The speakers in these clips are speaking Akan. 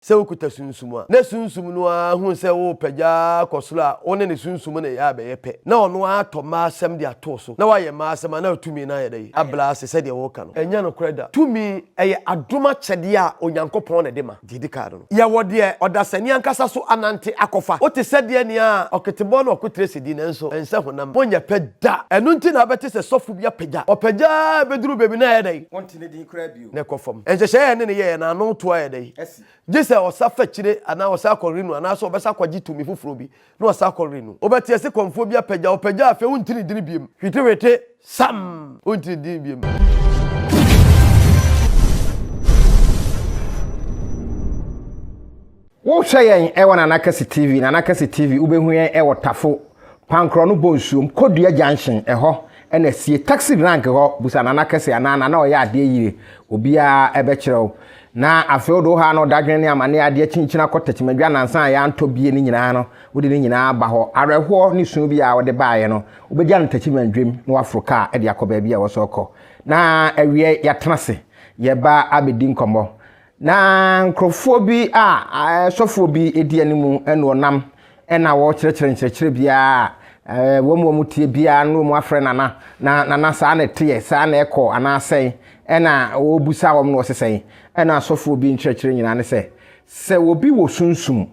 Sɛ wokuta Sunsum a, na Sunsum no ara hu sɛ worepɛ gya ara kɔ soro a, wo ne ne Sunsum no yɛ a ɛbɛyɛ pɛ. Na ɔno ara atɔ mmaa asɛm de ato wo so, na wayɛ mmaa asɛm a, na tumi no ayɛ dɛ? Abrɛ ase sɛdeɛ woreka no, ɛnyɛ nokorɛ da. Tumi, ɛyɛ adom akyɛdeɛ a Onyankopɔn na ɛde ma. Deɛ ɛdi kan no, yɛwɔ deɛ ɔdasani ankasa so anante akɔfa. Wote sɛdeɛ nea ɔketebɔ na ɔko tire sidi, nanso ɛnsɛ honam. Monyɛ pɛ da. Ɛno nti na wobɛte sɛ sɔfo bi apɛ gya. Ɔpɛ gya ara a, ɛbɛduru baabi no a ɛyɛ dɛ? Wonte ne din koraa bio. na ɛkɔ fam. Nhyehyɛe a ɛne no yɛe no ano to ayɛ dɛn? Gye sɛ ɔsa fa kyire anaa ɔsa akɔ Reno anaasɛ ɔbɛsa akɔgye tumi foforo bi na ɔsa akɔ Reno. Wobɛte ase kɔmfoɔ bi apagya, ɔpagya a afei wonte ne dini biom. Hwitihwiti! Sam! Wonte ne dini biom. Wo hwɛ yɛn wɔ Nana Kɛse TV, Nana Kɛse TV, wo bɛ hu yɛn wɔ Tafo, Pankorɔ no Bonsuom, Kodua Junction, ɛhɔ na asie, Taxi Rank hɔ, busa Nana Kɛse anaa Nana Ɔyɛ Adeɛ Yire, obiara bɛ kyerɛ wo. Na afei wo de wo haw ne ɔdadwene ne amaneɛ adeɛ kyinkyini akɔ Takyimadwa nansa a yɛ antɔ bie no nyinaa no, wo de ne nyinaa aba hɔ. Awerɛhoɔ ne suu biara a wo de baeɛ no, wo bɛ gya no Takyimadwam na waforo kaa de akɔ baabi a wɔ sɛ ɔkɔ. Na awieɛ yɛ atena ase, yɛ ba abɛ di nkɔmmɔ. Na nkurɔfoɔ bi a sɔfoɔ bi di anim ne wɔnam na wɔrekyerɛkyerɛ nkyerɛkyerɛ biara a wɔn a wɔtie biara na wɔn afrɛ nana na nana saa na ɛteɛ saa na ɛkɔ anaa sɛn ɛna wɔrebisa wɔn na wɔse sɛn ɛna sɔfoɔ bi nkyerɛkyerɛ nyinaa ne sɛ sɛ obi wɔ sunsum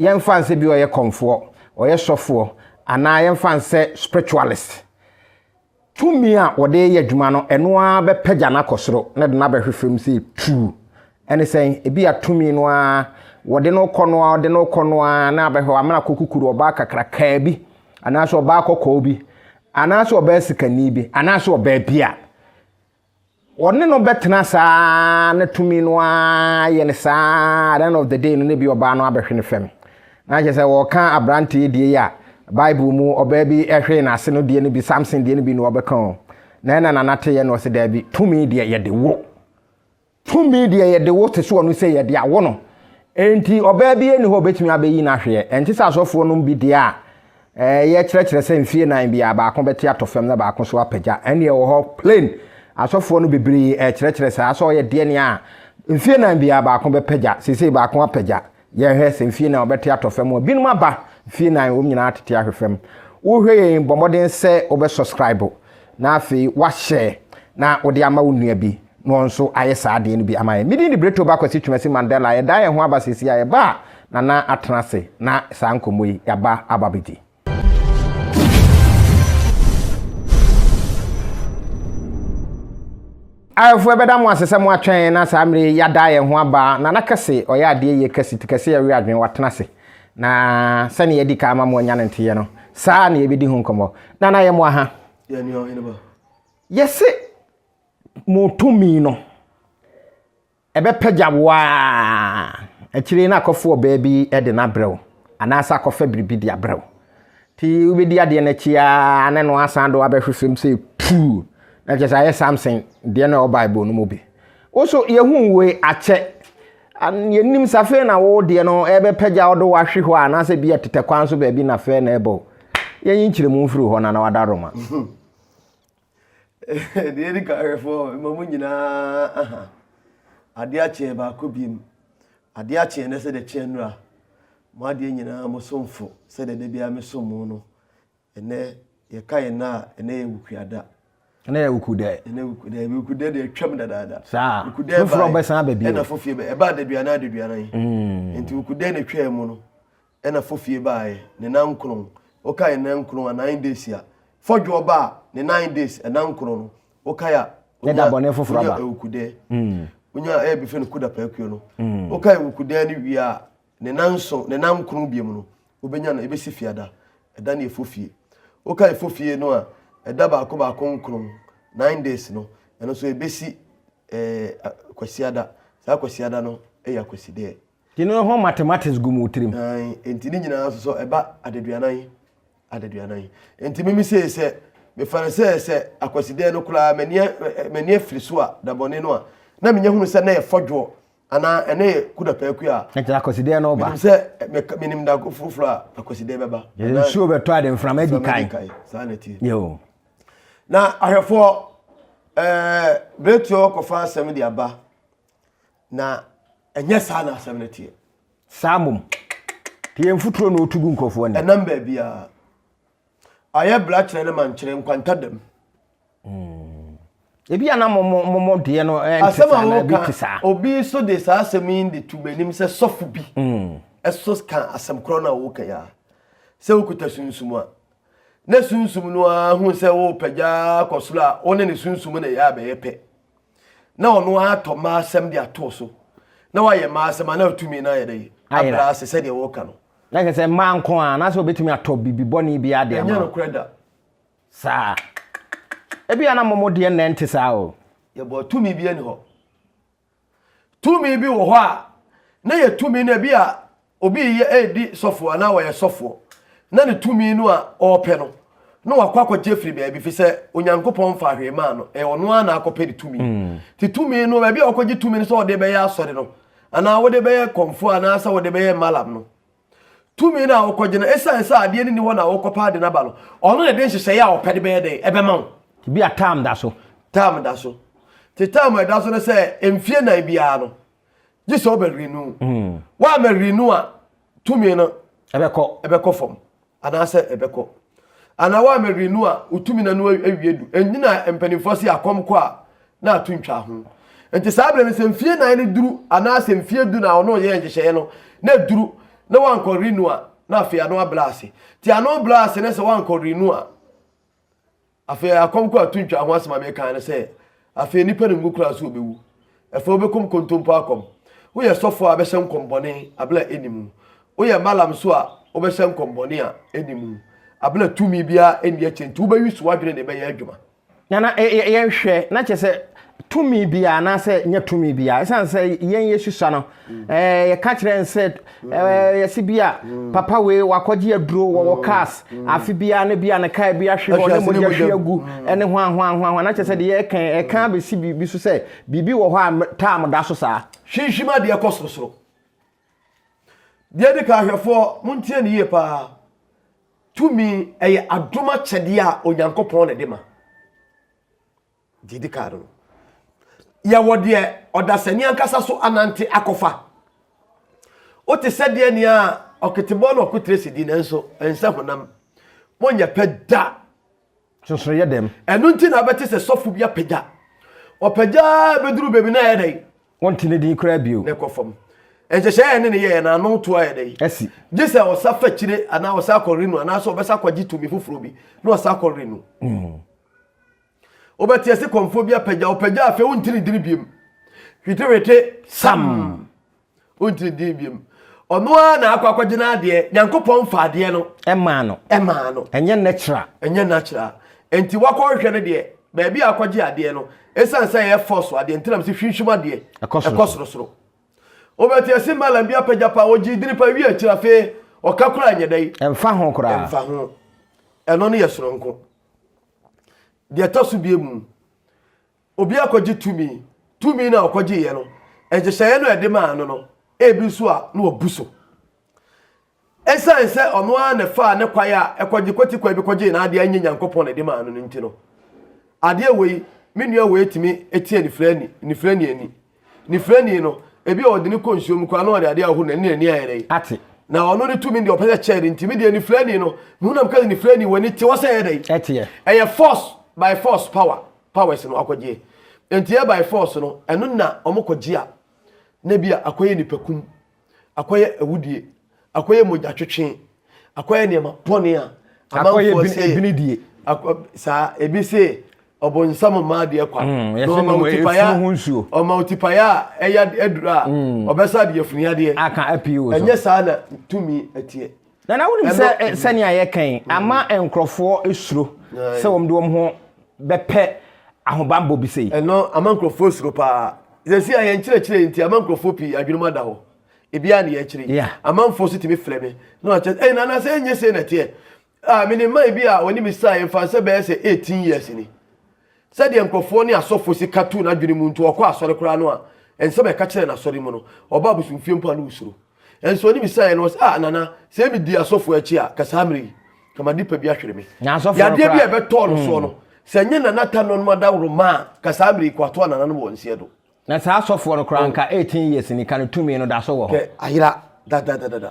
yɛmfa nsɛ bi ɔyɛ kɔmfoɔ ɔyɛ sɔfoɔ anaa yɛmfa nsɛ spiritualist Tumi a wɔde reyɛ adwuma no, ɛno ara bɛpagya no akɔ soro na ɛde no abɛhwe fam sɛ tuu. Ɛne sɛn? Ebia tumi no ara, wɔde no rekɔ no ara, wɔde no rekɔ no ara, na abɛhwɛ wamena akɔ kukuru, ɔbaa kakrakaa bi, anaasɛ ɔbaa kɔkɔɔ bi, anaasɛ ɔbaa sikani bi, anaasɛ ɔbaa bi a Wɔne no bɛtena saa na tumi no ara yɛ no saa at the end of the day no na bi ɔbaa no abɛhwe no fam. Na kyerɛ sɛ wɔka aberanteɛ die yi a Bible mu ɔbaa bi hwee n'ase no deɛ no bi, Samson deɛ no bi na wɔbɛka o. Na ɛna Nana teeɛ na ɔse daabi, tumi deɛ yɛde wo. Tumi deɛ yɛde wo te soɔ no sɛ yɛde awo no. Enti ɔbaa biara nni hɔ a ɔbɛtumi abɛyi no ahweɛ. Ɛnte sɛ asɔfoɔ nom bi deɛ a ɛyɛ kyerɛkyerɛ sɛ mfeɛ nnan biara baako bɛte atɔ fam na baako nso apagya. Ɛnneɛ ɛwɔ hɔ plain. Asɔfoɔ no bebree ɛkyerɛkyerɛ saa sɛ ɔyɛ deɛ nea mfeɛ nnan biara baako bɛpagya, seesei baako apagya. yɛhwɛ sɛ mfie nan wɔbɛte atɔ fam a binom aba mfie nan wɔn nyinaa atete ahwɛ fam wohwɛ yɛn bɔ mmɔden sɛ wobɛ subscribe na afei wahyɛ na wode ama wo nua bi na wɔn nso ayɛ saa adeɛ no bi ama yɛn medin de Breto ba kwasi twumasi Mandela yɛda yɛn ho aba sisi a yɛba a nana atena ase na saa nkɔmmɔ yi yɛaba aba bɛdi Awɛfoɔ ɛbɛda mo ase sɛ mo atwɛn na saa mmerɛ yi yɛada yɛn ho aba Nana Kɛse ɔyɛ adeɛ yie kɛse ti kɛse ɛwe adwene watena ase na sɛdeɛ yɛadi kan ama mo anya no nteɛ no saa na yɛbɛdi ho nkɔmmɔ Nana yɛ mo aha yɛse mo tumi no Ɛbɛpagya wo ara. Akyire yi na akɔfa ɔbaa bi de no abrɛ wo, anaasɛ akɔfa biribi de abrɛ wo. Nti wobɛdi adeɛ no akyi ara na no asan de wo abɛhwe fam sɛ puu. Na kyerɛ sɛ ayɛ Samson deɛ no a ɛwɔ Bible no mu bi. Wo nso yɛhu wei akyɛ. Yɛnim sɛ afei na wo deɛ no ɛbɛpagya wo de wo ahwe hɔ a, anaasɛ bi a tetɛ kwan so baabi na afei na ɛbɔ wo. Yɛnyi nkyerɛmu mfiri hɔ na na wada Roma. Deɛ ɛdi kan ahwɛfoɔ ma mo nyinaa aha adeɛ akyeɛ baako biem adeɛ akyeɛ na sɛ deɛ kyeɛ nnura mo adeɛ nyinaa mo somfo sɛ deɛ da biara me som mo no ɛnɛ yɛka yɛn na a ɛnɛ yɛ wukuada ɛnɛ yɛ wukudɛ ɛnɛ wukudɛ wukudɛ deɛ atwam dadaada saa wukudɛ foforɔ bɛsan aba bio ɛna fofie bɛ ɛba adaduana adaduana yi mm. nti wukudɛ na atwaa mu no Ɛna fɔ fie baeɛ ne nan nkron wokae nan nkron a nine days a fɔ dwoɔ baa ne nine days ɛnan nkron no wokae a onya onya ewukudɛɛ onya ɛyɛ befɛ no kuda pɛɛkuo no wokae ewukudɛɛ no wie a ne nan nson ne nan nkron biemu no wobɛnya no ebɛsi fiada ɛda ne efɔ fie wokae efɔ fie no a ɛda baako baako nkron nine days no ɛno nso ebɛsi ɛɛ kwasiada saa kwasiada no ɛyɛ akwasidɛɛ. Nti no ho mathematics gu mu tirim. Ae, nti ne nyinaa nso sɛ ɛba adaduanan, adaduanan. Nti me me sei sɛ, me fa no sɛ sɛ akwasidɛɛ no koraa m'ani a, m'ani afiri so a, da bɔne no a, na menya hunu sɛ na yɛ fɔdwoɔ, anaa ɛna yɛ kudapaaku a. Nti akwasidɛɛ no ba. Menim sɛ, me, menim da foforɔ a akwasidɛɛ bɛba. Yɛ nsuo bɛtɔ a de mframa adi kan. Mframa adi kan, saa na ɛteɛ. Yeo. Na ahwɛfoɔ, ɛɛ, beretuo kɔfa asɛm de aba. Na ɛnyɛ saa na asɛm no teɛ. Saa mmom, deɛ mfuturo na ɔtu gu nkurɔfoɔ anim. Ɛnam baabiara. Ayɛ bra kyerɛ ne mankyerɛ nkwanta dam. Hmm. Ebi a na mɔmɔ deɛ no eh, nte saa na ebi te saa. Obi so de saa asɛm yi de tu m'anim sɛ sɔfo bi hmm. ɛso ka asɛm korɔ na woka yi a sɛ wokuta sunsum a na sunsum no ara hu sɛ wopagya kɔ soro a wo ne ne sunsum na ɛyɛ abɛyɛ pɛ. na ɔno ara atɔ mmaa asɛm de ato so na wayɛ mmaa asɛm a na atumi no ayɛ dɛ abra ase sɛdeɛ wɔka no na kɛ sɛ mmaa nko a na sɛ obɛtumi atɔ biribi bɔne bi ade ama ɛnyɛ nokorɛ da saa ebi a na mmɔmɔ deɛ nnɛ nte saa o yɛbɔ tumi bi ani hɔ tumi bi wɔ hɔ a na yɛ tumi no ebi a obi reyɛ redi sɔfoɔ anaa ɔyɛ sɔfoɔ na ne tumi no a ɔrepɛ no na wakɔ akɔgye firi baabi fi sɛ onyankopɔn mfa hwee maa no ɛyɛ ɔno ara na akɔpɛ ne tumi mm. te tumi no baabi a ɔkɔgye tumi no sɛ ɔde bɛyɛ asɔre no anaa wode bɛyɛ kɔmfoɔ anaasɛ wode bɛyɛ malam no tumi no a wokɔgye no ɛsiane sɛ adeɛ no ni hɔ na wokɔpa ade no aba no ɔno na de nhyehyɛeɛ a ɔpɛ de bɛyɛ dɛn ɛbɛma wo bi a tam da so tam da so te tam ɛda so no sɛ mfie nan biara no gye sɛ ɔbɛ rinu hmm. wa mɛ rinu a tumi no ɛbɛkɔ ɛbɛkɔ fam anaasɛ ɛbɛkɔ anaa wa mɛ rinu a wotumi na no awie du ɛnyina mpanimfoɔ se akɔm kɔ a na ato ntwa ho nti saa berɛ no sɛ mfie nan no duru anaasɛ mfie du na ɔno yɛ nhyehyɛeɛ no na duru na wankɔ rinu a na afei ano abla ase nti ano bla ase ne sɛ wankɔ rinu a Afei akɔm kɔ ato ntwa ho asɛm a mekae no sɛ afei nnipa no ngu koraa so wɔbɛwu. Afei wobɛkɔm kontompo akɔm. Woyɛ sɔfoɔ a bɛhyɛ nkɔm bɔne abere a ɛnni mu. Woyɛ malam nso a wobɛhyɛ nkɔm bɔne a ɛnni mu abere a tumi biara ɛnni akyire nti wobɛwe su adwene de bɛyɛ adwuma. Na na yɛnhwɛ na kyerɛ sɛ tumi biara anaasɛ nya tumi biara ɛsiane sɛ yɛn yɛsusua no Eh, yɛka kyerɛ n sɛ eh, yɛse bi a papa wei wakɔgye aduro wɔ wɔ cars afe biara ne bi a ne kaa bi ahwe hɔ ne mogya hwe agu ɛne ho ahoahoahoa na kyerɛ sɛ deɛ yɛka ɛka bɛsi biribi so sɛ biribi wɔ hɔ a tam da so saa hwinhwim adeɛ kɔ sorosoro deɛ di ka ahwɛfoɔ montie ne yie paa tumi ɛyɛ adom akyɛdeɛ a onyankopɔn na de ma Deɛ ɛdi kan no, yɛwɔ deɛ ɔdasani ankasa so anante akɔfa. Wote sɛ deɛ nea ɔketebɔ na ɔkotere si di nanso ɛnsɛ honam. Monyɛ pɛ da. Sonsono yɛ dɛm. Ɛno nti na wobɛte sɛ sɔfo bi apagya. Ɔpagya bɛduru baabi na ɛyɛ dɛn? Wɔnte ne din koraa bio. Na ɛkɔ fam. Nhyehyɛe a ɛne ne yɛeɛ na ano to ayɛ dɛn? Asi. Gye sɛ ɔsa fa akyire anaa ɔsa kɔ renu anaasɛ ɔbɛsa kɔgye tumi foforɔ bi na ɔsa kɔ renu. Mm. Wobɛteɛ se kɔmfoɔ bi apagya wopagya afei wontiri ntiri biem hwetehwete sam wontiri ntiri biem ɔno ara na akɔ akɔgye no adeɛ nyankopɔn fa adeɛ no ɛmaa no ɛmaa no ɛnyɛ natural ɛnyɛ natural nti wakɔhwehwɛ no deɛ baabi a akɔgye adeɛ no ɛsiane sɛ ɛyɛ fɔ so adeɛ ntinam sɛ hwinhwim adeɛ ɛkɔ sorosoro wobɛteɛ se malam bi apagya pa ɔgye diri pa wie akyiri afei ɔka kora nyɛ dɛ ɛmfa ho koraa ɛmfa ho ɛno no yɛ soronko Deɛ ɛtɔ so bie mu, obi akɔgye tumi, tumi no a ɔkɔgyeeɛ no, nhyehyɛeɛ no a ɛde maa no no, ebi nso a na wabu so. Ɛsiane sɛ ɔno ara na ɛfaa ne kwae a ɛkɔgye kwati kwae bi kɔgyee n'adeɛ a ɛnyɛ Nyankopɔn na ɛde maa no no nti no, adeɛ wei, me nua wei tumi tia nifirani, nifirani ani. Ne firani no, ebi a ɔde no kɔ nsuo mu koraa na ɔde adeɛ ahohoro n'ani na n'ani ayɛ dɛ. Ate. Na ɔno ne tumi deɛ ɔpɛ sɛ kyɛɛ no nti me deɛ ne firani no, me hu na meka sɛ ne firani w'ani te hɔ sɛ ɛyɛ dɛ. Ɛteɛ. Ɛyɛ force by force power powers no akɔgyeɛ. Nti ɛyɛ by force no, ɛno na wɔkɔgye a na bi a akɔyɛ nipakum akɔyɛ awudie akɔyɛ mogyatwetwe akɔyɛ nneɛma bɔne a amanfoɔ sɛ saa ebi se ɔbonsam mmaa deɛ kwa mm, na ɔma wo tipayɛ ɔma wo tipayɛ a ɛyɛ aduru a mm. ɔbɛsa de afuni adeɛ ɛnyɛ saa na tumi ɛteɛ Na na wonim sɛ eh, sɛnea yɛka yi ama nkurɔfoɔ suro sɛ wɔn de wɔn ho bɛpɛ ahobammɔ bi sei. Ɛno ama nkurɔfoɔ suro paa. Sɛsi a yɛn nkyerɛkyerɛ yi nti ama nkurɔfoɔ pii adwenem ada hɔ. Ebiara ne yɛkyerɛ yi. Amanfoɔ so tumi frɛ me na wɔakyɛ ɛyi nana sɛ ɛnyɛ sei na ɛteɛ. Ah, menim man bi a wɔne me saa yɛmfa sɛ bɛyɛ sɛ 18 years ni. Sɛdeɛ nkurɔfoɔ ne asɔfoɔ si ka tu n'adwene mu nti ɔkɔ asɔre koraa no a nsɛm a ɛka kyerɛɛ no asɔre mu no ɔba abosomfie mpo a ne osuro. Nso ɔne bisaeɛ no ɔse ah Nana sɛ me dii asɔfoɔ akyi a nka saa mmerɛ yi nka ma nipa bi ahwere me. Na asɔfoɔ no Yadeɛ bi a koraa ɛbɛtɔɔ no soɔ no sɛ nyɛ Nana ta nɔnom adaworoma a nka saa mmerɛ yi ko atoa Nana no wɔ nseɛ do. Na saa asɔfoɔ no koraa nka eighteen years ni ka no tumi no daso wɔ hɔ. Hwɛ ayera dadadadada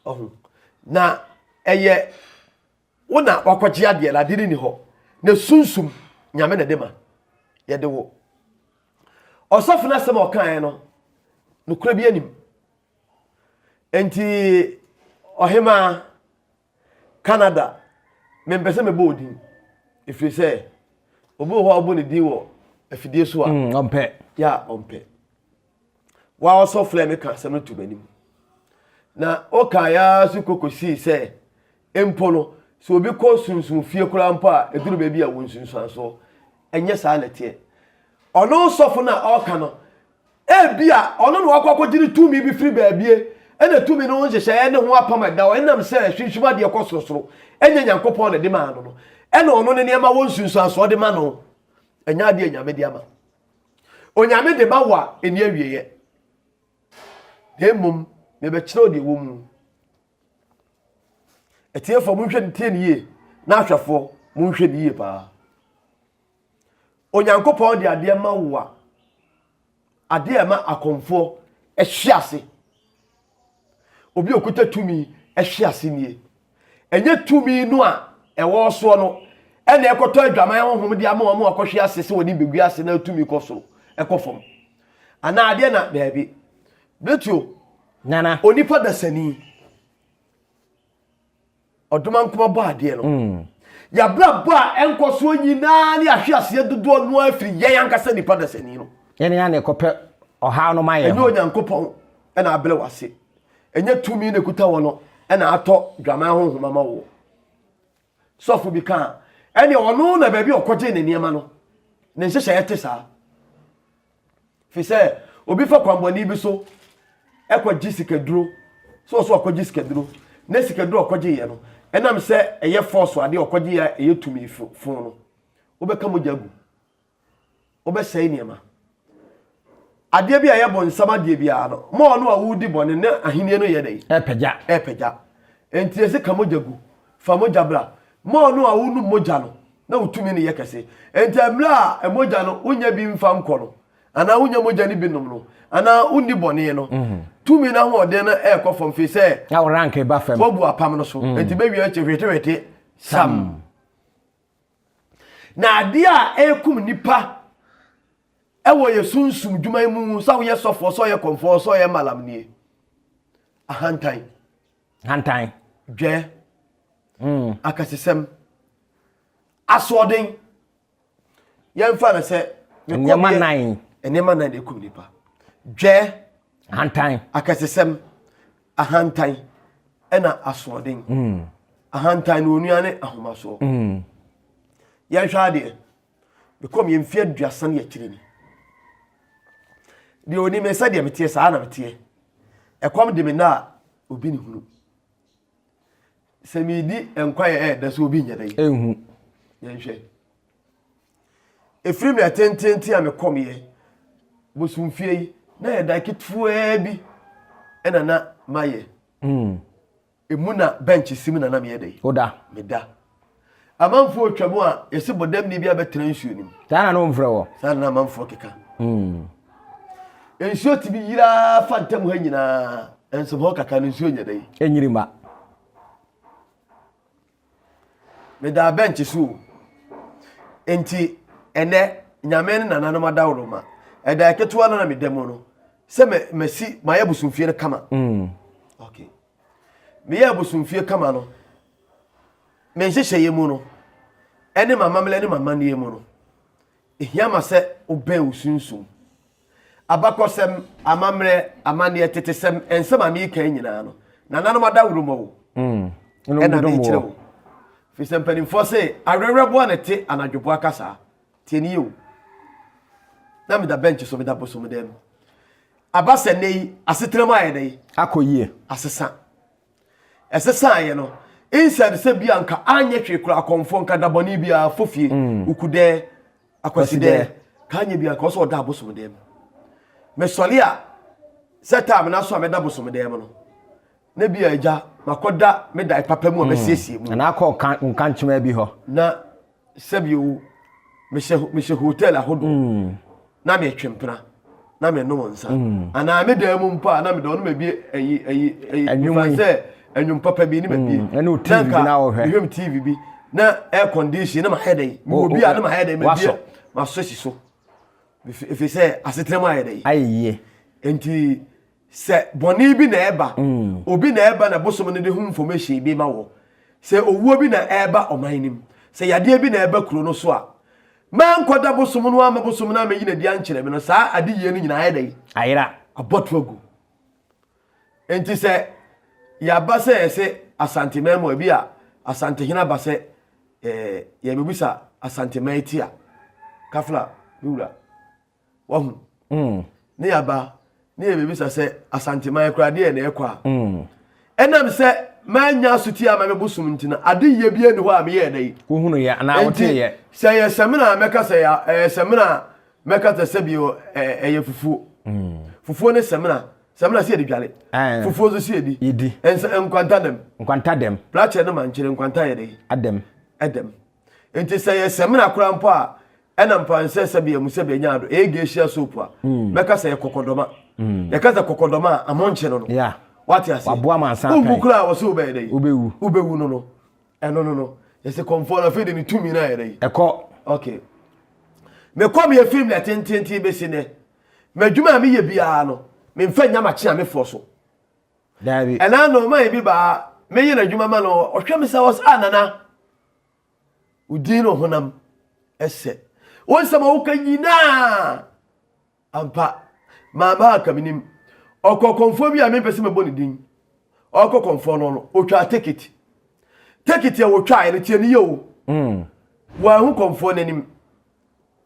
ɔho na ɛyɛ Wo na wakɔgye adeɛ no, adeɛ no ni hɔ. Ne sunsum, Nyame na ɛde ma. Yɛde wo. Ɔsɔfo no asɛm a ɔkaeɛ no, nokorɛ bi anim. Enti, ɔhemaa, Canada, mempɛ sɛ mebɔ odin, ɛfiri sɛ, obi wɔ hɔ a wobɔ ne din wɔ afidie so a. Mm, ɔmpɛ. Ya, ɔmpɛ. wa ɔsɔ flɛ me ka asɛm no to m'anim na ɔkae ara so kɔkɔsii sɛ mpo no sɛ obi kɔ sunsum fie koraa mpo a ɛduru baabi a wɔ nsunsuansoɔ ɛnyɛ saa na ɛteɛ ɔno sɔfo no a ɔka no ebi a ɔno na wakɔ akɔgye ne tumi bi firi baabie ɛna tumi no ho nhyehyɛeɛ ne ho apam ɛda hɔ ɛnam sɛ sunsum adeɛ kɔ sorosoro ɛnyɛ nyankopɔn na ɛde maa no no ɛna ɔno ne nneɛma wɔ nsunsuansoɔ de ma no ɛnyɛ adeɛ nyame de ama Onyame de ba wo a ɛni awieɛ, na mmom mebɛkyerɛ wo deɛ ɛwɔ mu. Atiefoɔ monhwɛ no tie no yie, na ahwɛfoɔ monhwɛ no yie paa. Onyankopɔn de adeɛ ma wo a, adeɛ ɛma akɔmfoɔ hwe ase. Obi a ɔkuta tumi hwe ase nie. Ɛnyɛ tumi no a ɛwɔ soɔ no ɛna ɛkɔtɔ adwaman honhom de ama wɔn a wɔkɔhwe ase sɛ wɔde bɛgu ase na tumi kɔ soro ɛkɔ fam anaa adeɛ na daabi. Bɛtuo. Nana. Onipa dasani. ɔdoma nkoma bɔ adeɛ no mm. yɛabrabɔ a ɛnkɔ soɔ nyinaa ne ahwe aseɛ dodoɔ no afiri yɛn ankasa nnipa dasani no yɛne yɛne ɛkɔpɛ ɔhaw no ma yɛ ɛnyɛ onyankopɔn ɛna abrɛ wo ase ɛnyɛ tumi na ɛkuta wɔ no ɛna atɔ dwaman honhoma ma woɔ Sɔfo bi kaa, ɛne ɔno na baabi a ɔkɔgyee ne nneɛma no, ne nhyehyɛeɛ te saa. Fi sɛ obi fa kwanbɔne bi so ɛkɔgye sikaduro, so ɔso ɔkɔgye sikaduro, na sikaduro ɔkɔgyeeɛ no, ɛnam sɛ ɛyɛ fɔɔso adeɛ ɔkɔgyeeɛ a ɛyɛ tumi fo no, wobɛka mogya gu. wobɛsɛe nneɛma. Adeɛ bi a ɛyɛ bɔnsam adeɛ biara no, ma ɔno a wodi bɔne ne ahenni no yɛ dɛn? Ɛpagya. Ɛpagya. Enti ɛsɛ ka mogya gu, fa mogya bra. Ma ɔno a wonum mogya no na wo tumi no yɛ kɛse. Enti mmerɛ a mogya no wonya bi mfa nkɔ no, anaa wonya mogya no bi nom no, anaa wonni bɔne no, mhm. tumi no ahoɔden no ɛrekɔ fam fei sɛ woabu apam no so. Mhm. Enti bɛwie akyi hwetehwete sam. Na adeɛ a ɛrekum nnipa ɛwɔ yɛ sunsum dwuma yi mu sɛ woyɛ sɔfoɔ sɛ ɔyɛ kɔmfoɔ sɛ ɔyɛ malam nie ahantan hantan dwɛ mm. akasesɛm asoɔden yɛmfa no sɛ nneɛma nan nneɛma nan ɛkum nnipa dwɛ hantan akasesɛm Ahantan ɛna asoɔden. Mm. Ahantan no onua ne ahomasoɔ. Mm. Yɛnhwɛ adeɛ. Mekɔm yɛ mfeɛ aduasa ne akyire ni. Deɛ onim sɛ deɛ meteɛ saa na meteɛ. Ɛkɔm de me na a obi ne hunu. Sɛ medi nkwa yɛ ɛɛdɛ sɛ obi nyɛ dɛ. Ɛnhu. Yɛnhwɛ. Ɛfiri mmerɛ tenteenten a mekɔmeɛ bosomfie yi na yɛ dan ketewaa bi ɛna na mayɛ hmm. ɛmu na bench si mu na na meyɛ dɛ woda meda amanfoɔ ɔtwa mu a yɛse bɔdamni bi abɛtena nsuo no mu saa na na ɔmfrɛ wɔ saa na amanfoɔ keka hmm. nsuo tumi yiraa fa ntam ha nyinaa ɛnsom hɔ kaka no nsuo nyɛ dɛ ɛnyiri ma Medaa bɛnkye so o. Enti ɛnɛ, Nyame ne nananom adaworoma. Ɛda ɛketewa no na meda mu no, sɛ mɛ mɛsi mayɛ abosomfie no kama. Mm. Okay. Meyɛ abosomfie kama no, me nhyehyɛeɛ mu no, ɛne m'amammerɛ ne m'amanneɛ mu no, ɛhia ma sɛ wobɛn wo sunsum. Abakɔsɛm, amammerɛ, amanneɛ, tetesɛm, nsɛm a mereka yi nyinaa no, nananom adaworoma o, ɛna mm. merekyerɛ o. Firi sɛ mpanimfoɔ se, awerɛwerɛboɔ na ɛte anadwoboa kasaa. Tie ne yie o. Na meda bɛnkye so, meda bosom dan mu. Aba sɛ nnɛ yi, asetenam ayɛ dɛ yi. Akɔ yie. Asesa. ɛsesaeɛ no instead sɛ bi anka anyɛ hwee kora akɔmfoɔ nka da bɔne biara fo fie mm. wokudɛ akwasidɛ ka anyɛ bi anka ɔsɛ ɔda abosom dɛm mesɔre a sɛ taa mena so a mɛda bosom dɛm no na bi a agya makɔda meda papa mu a mɛsiesie mu na akɔ nkankyema bi hɔ na Sɛbio o, mehyɛ mehyɛ hotel ahodoɔ mm. na metwe mpena na menom nsa mm. anaa me dan mu mpo a na mede ɔno ma bie ayi ayi ayi ɛnwuma sɛ ɛnwom papa bi ne ma bie mm. ɛne o tv bi na ɔhwɛ mehwɛ me tv bi na air condition ne ma hɛ dɛn mewɔ bi a ne ma hɛ dɛn ma bie ma so si so efi sɛ asetena mu ayɛ dɛn ayɛ yie nti Sɛ bɔne bi na ɛba, obi na ɛba na bosom no de ho information bi ma wɔ. Sɛ owuo bi na ɛba ɔman no mu, sɛ yadeɛ bi na ɛba kuro no so a, mankɔda bosom no ama bosom no amɛyi n'adi ankyerɛ me no, saa adeyie no nyinaa ayɛ dɛn? Ayera. Abɔto agu. Enti sɛ yɛaba sɛ yɛsɛ Asanteman mu a, ebi a Asantehene aba sɛ eh, yɛbɛbisa Asanteman ti a, Kafla, me wura, Wahu? Mm. Ne yɛaba, ne yɛbɛbisa sɛ, Asanteman koraa deɛ na ɛkɔ a? Mm. Ɛnam sɛ manya asotie ama me bosom nti no, ade yɛ bi ani hɔ a meyɛɛ dɛ yi. Wohunu yɛ anaa wote yɛ. Sɛ yɛ sɛmina a mɛka sɛ ɛyɛ sɛmina a mɛka sɛ sɛ bi ɛyɛ fufuo. Mm. Fufuo ne sɛmina. Sɛmina si yɛde dwale. Eh. Fufuo nso si yɛdi. Yɛdi. Nsa nkwanta dɛm. Nkwanta dɛm. Plakyɛ no ma nkyerɛ nkwanta yɛ dɛ yi. Adɛm. Ɛdɛm. nti sɛ yɛ sɛmina koraa mpo a ɛna mpa nsɛ sɛ bia mu sɛ bia nya ado ɛyɛ gehyia soap a mm. mɛka sɛ yɛ kɔkɔdɔma mm. yɛka sɛ kɔkɔdɔma a ɛho nkye no no wate ase wowu koraa wɔ sɛ wobɛyɛ dɛ wobɛwu no no ɛno no no yɛsɛ kɔmfoɔ no afei de ne tumi no ayɛ dɛ ɛkɔ okay mekɔ meyɛ film na tententen bɛsi nɛ madwuma a meyɛ biara no memfa nya makye a mefoɔ so Daabi. Ɛna no ɔman bi baa me yere adwuma ma no ɔhwɛ me sɛ ɔs ah nana wo din no honam ɛsɛ wo nsɛm a woka nyinaa ampa maa maa ka menim ɔkɔ kɔmfoɔ bi a mempɛ sɛ mɛbɔ ne din ɔkɔ kɔmfoɔ no no ɔtwaa tekiti tekiti a wɔtwaeɛ no tiɛ no yɛ o wɔahu kɔmfoɔ no anim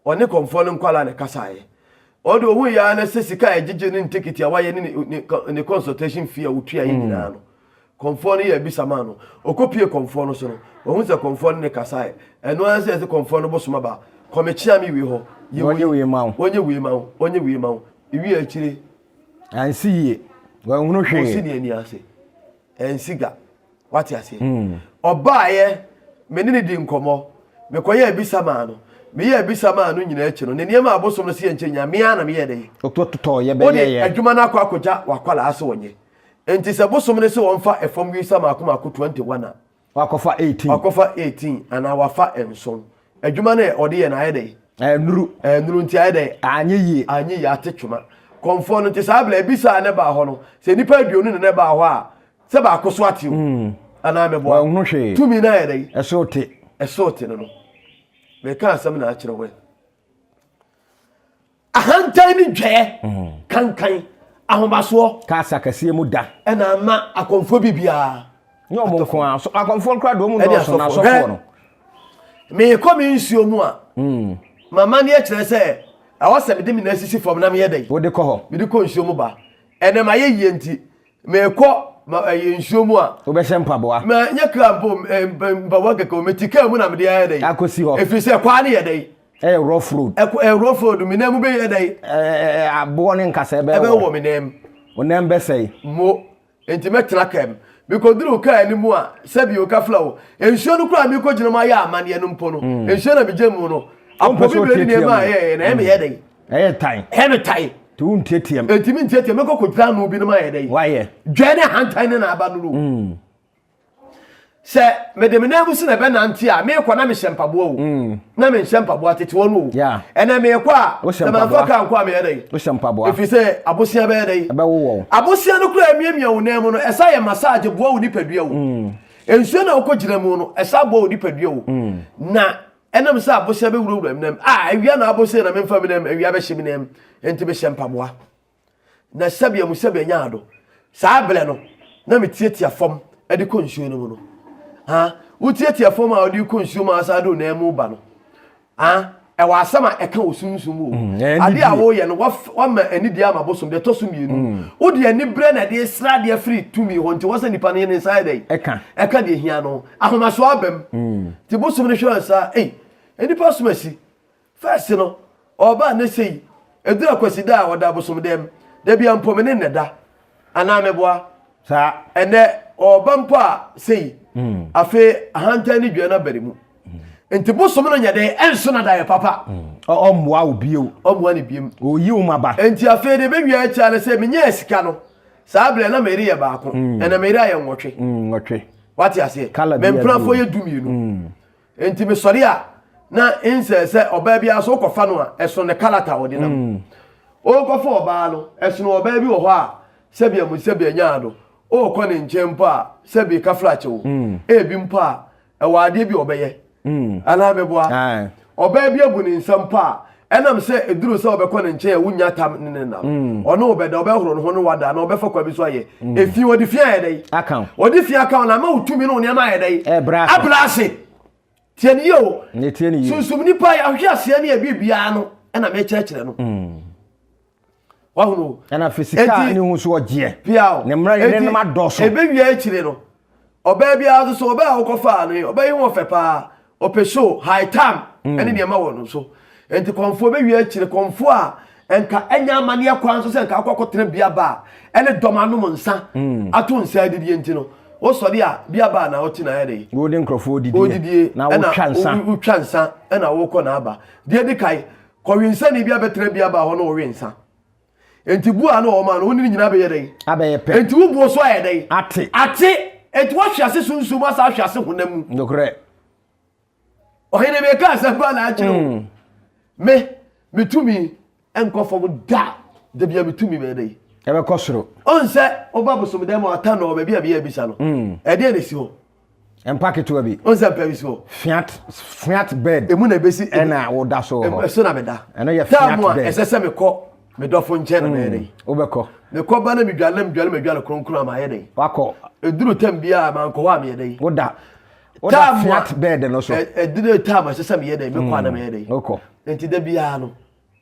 Ɔne kɔmfoɔ no nkwadaa na ɛkasaeɛ. Ɔno deɛ ɔhuiɛ ara ne sɛ sika a ɛgyegye ne ne tekiti a wayɛ ne ne ne consultation fee a ɔtuaeɛ hmm. nyinaa no kɔmfoɔ no yɛ abisa maa no ɔkɔpie kɔmfoɔ no so no wahu sɛ kɔmfoɔ no ne kasaeɛ ɛno ara sɛ ɛsɛ kɔmfoɔ no bosoma ba kɔmekyea me wie hɔ yɛwɔnyɛ wie ma wo ɔnyɛ wie ma wo ɔnyɛ wie ma wo ɛwie akyire ansi yie wɔahunu hwee ɔsi ne ani ase ɛnsi ga wate aseɛ hmm. ɔbaeɛ me ne ne di nkɔmmɔ mekɔyɛ abisa maa no meyɛ abisa maa no nyinaa akyi no ne nneɛma abosom no seyɛ nkyɛ nyame a na meyɛ dɛ wode adwuma no akɔ akɔgya wakwalaa sɛ ɔnyɛ nti sɛ bosom no sɛ ɔmfa ɛfam wisa maako maako 21 a wakɔfa 18 wakɔfa 18 anaa wafa nson adwuma no ɔde yɛ no ayɛ dɛ ɛnuru ɛnuru nti ayɛ dɛ anyɛ yie anyɛ yie ate twema kɔnfoɔ no nti saa bla abisa a ne baa hɔ no sɛ nnipa aduonu ne ne baa hɔ a Sɛ baako so ate o anaa mɛboa. Wɔnhu hwee. Tumi no ayɛ dɛn? Ɛso te. Ɛso te no no. Mɛka asɛm na akyerɛ wɔn. Ahantan ne dwɛɛ mhm. kankan ahomasoɔ. Kaasa kɛseɛ mu da. Ɛna ama akɔmfoɔ bi biara. Nyɛ ɔmo nko ara so akɔmfoɔ nkora deɛ ɔmo nnɔɔso na asɔfoɔ no. Meekɔ me nsuo mu a. Hmm. Mama ne ɛkyerɛ sɛ ɛwɔ sɛ mede me nan sisi fam na meyɛ dɛn. Wode kɔ hɔ. Mede kɔ nsuo mu ba. Ɛnɛ ma yɛ yie nti Mekɔ ma ɛyɛ eh, nsuo mu a. Wobɛhyɛ mpaboa. Ma nyɛ kra mpo eh, mpaboa kɛkɛ o. Mete kaa mu na mede ayɛ dɛ. Akɔsi hɔ. Ɛfiri sɛ kwaa no yɛ dɛ. Ɛyɛ rough road. Ɛkɔ ɛyɛ rough road me nan mu bɛyɛ dɛ. Ɛɛ aboɔ ne nkasa ɛbɛwɔ. Ɛbɛwɔ me nan mu. Wo nan bɛsɛe. Mo nti mɛtena kaa mu. Mekɔduru kaa no mu a sɛbi o kafla o. Nsuo no koraa mekɔgyina mu ayɛ amaneɛ no mpo no. Mm. Nsuo na megyina mu no. Apɔ bi bɛni nneɛma a ɛyɛ na ɛmeyɛ dɛ. Ɛyɛ tan. Ɛyɛ no tan. Nti wo ntiatiam. Nti me ntiatiam me kɔ kɔgyina ano bi no ma yɛ dɛ. Wayɛ. Dwɛɛ ne ahantan ne na aba no no. Mm. Sɛ mede me nan mu sene bɛ nante a meekɔ na mehyɛ mpaboa o. Mm. Na menhyɛ mpaboa tete wɔn o. Yeah. Ɛnɛ meekɔ a. Wohyɛ mpaboa. Na manfa kaa nkɔ a meyɛ dɛ. Wohyɛ mpaboa. Efi sɛ abosea bɛyɛ dɛ. Ɛbɛwowɔ wo. Abosea no kura emiamia wo nan mu no ɛsa yɛ massage boa wo nipadua o. Mm. Nsuo na wokɔ gyina mu no ɛsa boa wo nipadua o. Mm. Na Ɛnam sɛ abosea bɛwurawura me nam, a awia na abosea na memfa me nam, awia bɛhye me nam, enti mehyɛ mpaboa, na sɛbea mu sɛbea nya ado. Saa berɛ no, na metiatia fam de kɔ nsuo no mu no. Ah, wotiatia fam a ɔde kɔ nsuo mu a ɔsan de wo nan mu ba no. Ah, ɛwɔ asɛm a ɛka wɔ sunsum mu o. Mm, eh, Adeɛ a woyɛ no, wama anidie ama bosom, deɛ ɛtɔ so mmienu. Mm. Wode aniberɛ na ɛde sra adeɛ firi tumi hɔ, nti wɔ sɛ nipa no yɛ ne nsa yɛ dɛn? Ɛka. Ɛka deɛ hia no. Ahomaso aba mu. Nti bosom no hwɛ ansa ei nnipa som asi. First no ɔɔba a na sei ɛduru akwasida a ɔda abosom dɛm. Dabia mpo me ne no da anaa mɛboa. Saa. Ɛnɛ ɔɔba mpo a sei. Afei ahantan ne dua no aba ne mu. Nti bosom no nyɛ dɛn ɛnso no daeɛ papa. Ɔmmoa wo bio. Ɔmmoa no biom. Ɔyi wo maba. Nti afei deɛ bɛwia akyire a na sɛ menyɛɛ sika no. Saa berɛ na me yere yɛ baako, ɛnna me yere ayɛ nwɔtwe. Nwɔtwe. Wate aseɛ? Kala Me mpenafoɔ yɛ du mmienu. Enti mesɔre a, na nsɛ sɛ ɔbaa biara so wokɔfa no a, ɛsono ne kala ta a ɔde nam. Worekɔfa ɔbaa no, ɛsono ɔbaa bi wɔ hɔ a, sɛbi amu sɛbi anyaa no, worekɔ ne nkyɛn mpo a, sɛbi kafra kyɛ wo. Ebi mpo a, ɛwɔ adeɛ bi a ɔbɛyɛ hmm. anaa meboa ɔbaa bi abu ne nsa mpo a ɛnam sɛ ɛduru sɛ ɔbɛkɔ ne nkyɛn a wonya tam ne ne nam hmm. ɔne ɔbɛda ɔbɛhoro ne ho ne wada na ɔbɛfa kwa bi so ayɛ hmm. ɛfi ɔde fi ayɛ dɛ ɔde fi aka na ama wotumi ne wo nneɛma ayɛ dɛ abra ase tiɛ ne yie o sunsum nipa yɛ ahwe aseɛ ne ɛbi biara no ɛna mɛkyerɛkyerɛ no wahunu. ɛna fi sika ne ho so ɔgyeɛ piaw ne mmerɛ ne nom adɔso ebe wia akyire no ɔbaa biara nso so ɔbaa a wokɔfaa no yi ɔbaa yi ho ɔfɛ paa ɔpɛ show high tam mm. ɛne nneɛma wɔ no so nti kɔnfoɔ ebe wia akyire kɔnfoɔ a nka ɛnya amaneɛ kwan nso sɛ nka akɔ akɔtena bia baa ɛne dɔm anom nsa mm. ato nsa adidie nti no wosɔre a bia baa na ɔte na ayɛ de wode nkurɔfoɔ odidie na wotwa nsa wotwa nsa ɛna wokɔ na aba deɛ di kae Kɔwensani bi abɛtra bia baa hɔ na ɔwe nsa. Enti bu a na ɔma no, wo ne no nyinaa bɛyɛ dɛn? Abɛyɛ pɛ. Enti wo boɔ so ayɛ dɛn? Ate. Ate. Enti woahwe ase sunsum mu asan ahwe ase honam mu. Nokorɛ. Ɔhene meka asɛm pa na akyerɛ o. Me, me tumi nkɔ fam da. Da bia me tumi bɛyɛ dɛn? Ɛbɛkɔ soro. Ɔnsɛ woba bosomdam a ɔtannɔ hɔ baabi a bia abisa no. Ɛdeɛn na ɛsi hɔ? Mpa ketewa bi. Wọn sɛ mpa bi so. Fiat fiat bed. Emu na ebesi. Ɛna woda so wɔ hɔ. Ɛso na meda. Ɛno yɛ fiat bed. Taamu a ɛsɛ sɛ mekɔ me dɔfo nkyɛn na hmm, mɛyɛ dɛ. Wobɛkɔ. Mekɔ ba na medwale na medwale madwale kronkron a mayɛ dɛ. Wakɔ. Eduru tam bi a mankɔ hɔ a meyɛ dɛ. Woda. Woda fiat bed no so. Eduru tam a ɛsɛ sɛ meyɛ dɛ. Mekɔ a na hmm, mɛyɛ dɛ. Wokɔ. Nti da biara no.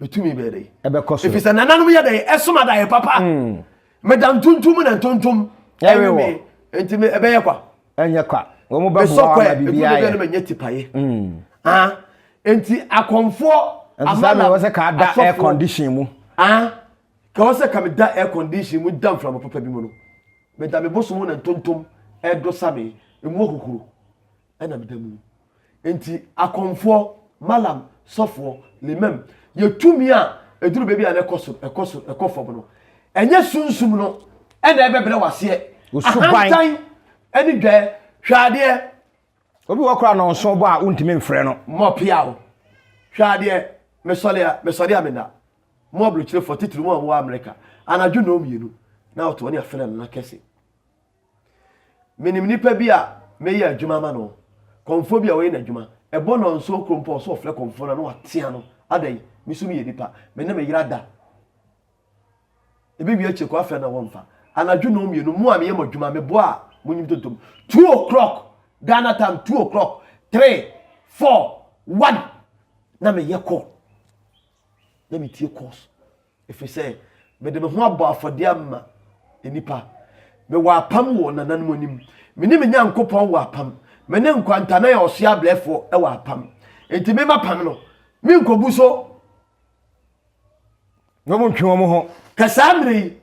bɛtumi bɛyɛ dɛn ɛbɛkɔ so ɛfiri sɛ nananom yɛ dɛn ɛsom adaeɛ papa hmm. meda ntontom na ntontom ɛwe me nti ɛbɛyɛ kwa ɛnyɛ kwa wɔn bɛ boa ama bibi ayɛ ɛduru bɛyɛ tipaeɛ hmm. ah nti akɔnfoɔ amala wɔsɛ ka da air condition mu ah ka wɔsɛ ka me da air condition mu da nframa papa bi mu no meda me bosom na ntontom ɛdɔ sa me emu okukuru ɛna meda mu nti akɔmfoɔ malam sɔfoɔ limam yɛ tumi a ɛduru baabi a na ɛkɔ so ɛkɔ so ɛkɔ fam no ɛnyɛ sunsum no ɛna ɛbɛbrɛ waseɛ ahantan ɛne dwaɛ hwɛ adeɛ obi wɔ kora no nso bɔ a wontumi mfrɛ no mɔpea o hwɛ adeɛ mesɔre a mesɔre a meda mo aburokyerefo titiri mu a wɔwɔ amerika anadwo na ɔmmienu na ɔtɔ ne afɛnɛ no na kɛse Menim nipa bi a me yɛ adwuma ama no kɔmfoɔ bi a ɔyɛ n'adwuma ɛbɔ nɔnsoɔ kuro mpo ɔsɛ ɔfrɛ kɔmfoɔ no a na watea no adɛn me so meyɛ nipa me ne me yere ada ebi wie akyire kɔ afrɛ na wɔmfa anadwo na ɔmmienu mo a meyɛ mo adwuma meboa a monyim tontom 2 o'clock Ghana time 2 o'clock 3 4 1 na meyɛ call na metie calls Ɛfiri sɛ mede me ho abɔ afɔdeɛ ama nnipa. Mewɔ apam wɔ nananom anim. Me ne me Nyankopɔn wɔ apam. Me ne nkwantanan a ɔsoɛ abrɛfoɔ wɔ apam. Enti me m'apam no, menkɔbu so. Na wɔn ntwe wɔn ho. Ka saa mmerɛ yi,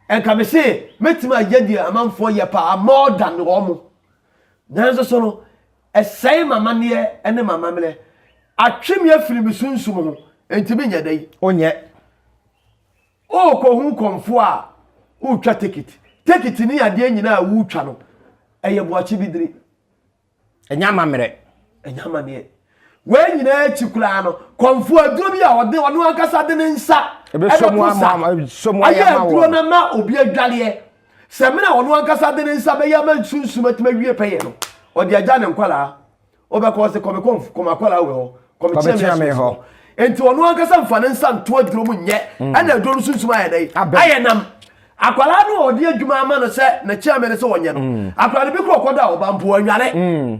ɛnka me se mɛtumi ayɛ deɛ amanfoɔ yɛ paa more than wɔn. Nanso so no, Ɛsɛe m'amanneɛ ne m'amammerɛ. Atwe me afiri me sunsum ho, enti menyɛ dɛ yi. Onyɛ. Worekɔhu kɔmfoɔ a woretwa tekit. Tekit ne adeɛ nyinaa a woretwa no, ɛyɛ boakye bibire. Ɛnyɛ amammerɛ. Ɛnyɛ amanneɛ. Wei nyinaa akyi koraa no, kɔmfoɔ aduro bi a ɔde ɔno ankasa de ne nsa ɛbɛpo sa ayɛ aduro no ama obi adwareɛ. Samina a ɔno ankasa de ne nsa bɛyɛ ama nsunsum atumi awie pɛyɛ no, ɔde agya ne nkwadaa. Ɔbɛkɔ ɔse kɔme kɔm kɔm akwadaa wɔ hɔ, kɔme kyerɛ me asomfo hɔ. Enti ɔno ankasa mfa ne nsa nto aduro mu nyɛ, mm. ɛna aduro no sunsum ayɛ dɛ, ayɛ nam. Akwadaa no a ɔde adwuma ama no sɛ ne kyerɛ me no sɛ ɔnyɛ no, mm. akwadaa no bi kɔ ɔkɔda ɔba mpo ɔnware. Mm.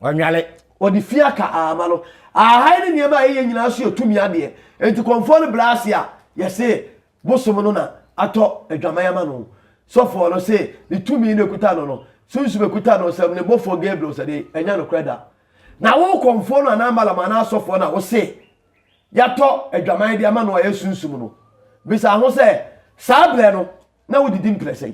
Ɔnwale. Wɔde fi aka ama no. Ahahan ne nneɛma a ɛyɛ nyinaa nso yɛ tumi adeɛ. Enti kɔmfoɔ no bra ase a, yɛse bosom no na atɔ adwaman ama no. Sɔfoɔ no se ne tumi na ɛkuta no no, sunsum a ɛkuta no nsam, ne bɔfoɔ Gabriel sɛ dee, ɛnyɛ nokorɛ da. Na wo kɔmfoɔ no anaa Balaam anaa asɔfoɔ no a wose yɛatɔ adwaman de ama no a ɛyɛ sunsum no, bisa ho sɛ, Saa berɛ no, na wodidi mprɛsɛn?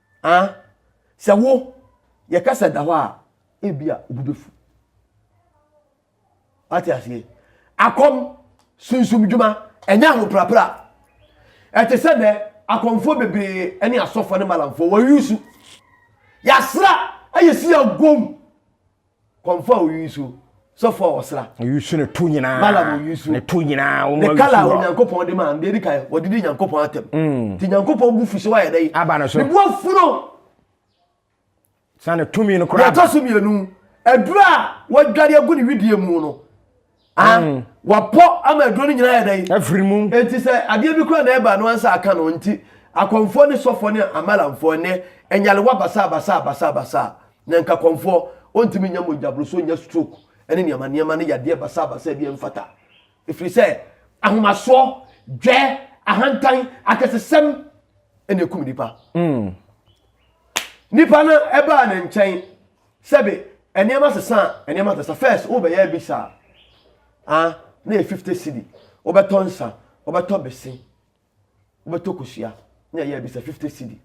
Ah, sɛ wo yɛka sɛ da hɔ a ebi a obi bɛfu. Ate aseɛ? Akɔm sunsum dwuma ɛnyɛ ahoprapra. Ɛte sɛ dɛ akɔmfoɔ bebree ne asɔfoɔ ne malamfoɔ wɔyusu. Yɛasra ayɛ si agom. Kɔmfo a ɔyi nsuo. Sɔfo a ɔsra. Ɔyi nsuo ne to nyinaa. Malam ɔyi nsuo. Ne to nyinaa. Wɔn ne kala a Onyankopɔn de maa no deɛ edi kan wɔde di Nyankopɔn atam. Mm. Ti Nyankopɔn bu fuso ayɛ dɛ. Aba no so. Ne bu afuro. Saa ne tumi no koraa. Yɛtɔ so mmienu. Aduru a wɔadware agu ne widie mu no. Ah, mm. wapɔ ama aduro no nyinaa yɛ dɛn afiri mu enti sɛ adeɛ bi kora na ɛba no ansa aka no nti akɔmfoɔ ne sɔfoɔ ne amalamfoɔ nnɛ ɛnyalewa basaa basaa basaa basaa na nka kɔmfoɔ ɔntumi nya mogyaboro so nya stroke ɛne nneɛma nneɛma ne yadeɛ basaa basaa bi ɛmfata ɛfiri sɛ ahomasoɔ dwɛ ahantan akɛsesɛm ɛne ɛkum nipa mm. nipa no ɛbaa ne nkyɛn Sɛbe nneɛma sesa a, nneɛma sesa. First, wobɛyɛ abi saa. Ah, na yɛ 50 cedi. Wobɛtɔ nsa, wobɛtɔ bese, wobɛtɔ kosua. Na yɛ abi sa 50 cedi.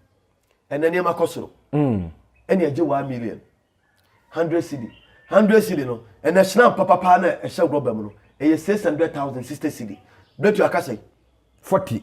Ɛnɛ nneɛma kɔ soro. Mm. Ɛne agye 1 million. 100 cedi. 100 cedi no, ɛnɛ hyena papapa na ɛhyɛ rɔba mu no, ɛyɛ 600,000 60 cedi. Bɛtu akasɛ. 40.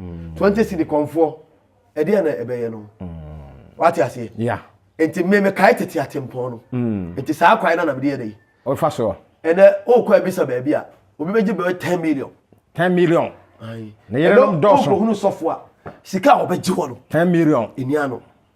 mm. twenty cedi kɔnfoɔ ɛde yɛ na ɛbɛyɛ no mm. wate aseɛ yeah. nti me mekae tete atempɔn no mm. nti saa kwae no na mede yɛ dɛ ɔfa soɔ ɛnɛ wokɔ abisa baabi a obi bɛgye bɛyɛ ten million ten million na yɛrɛ dɔɔso ɛnɛ wokɔhunu sɔfo a sika a wɔbɛgye wɔ no ten million ɛnia no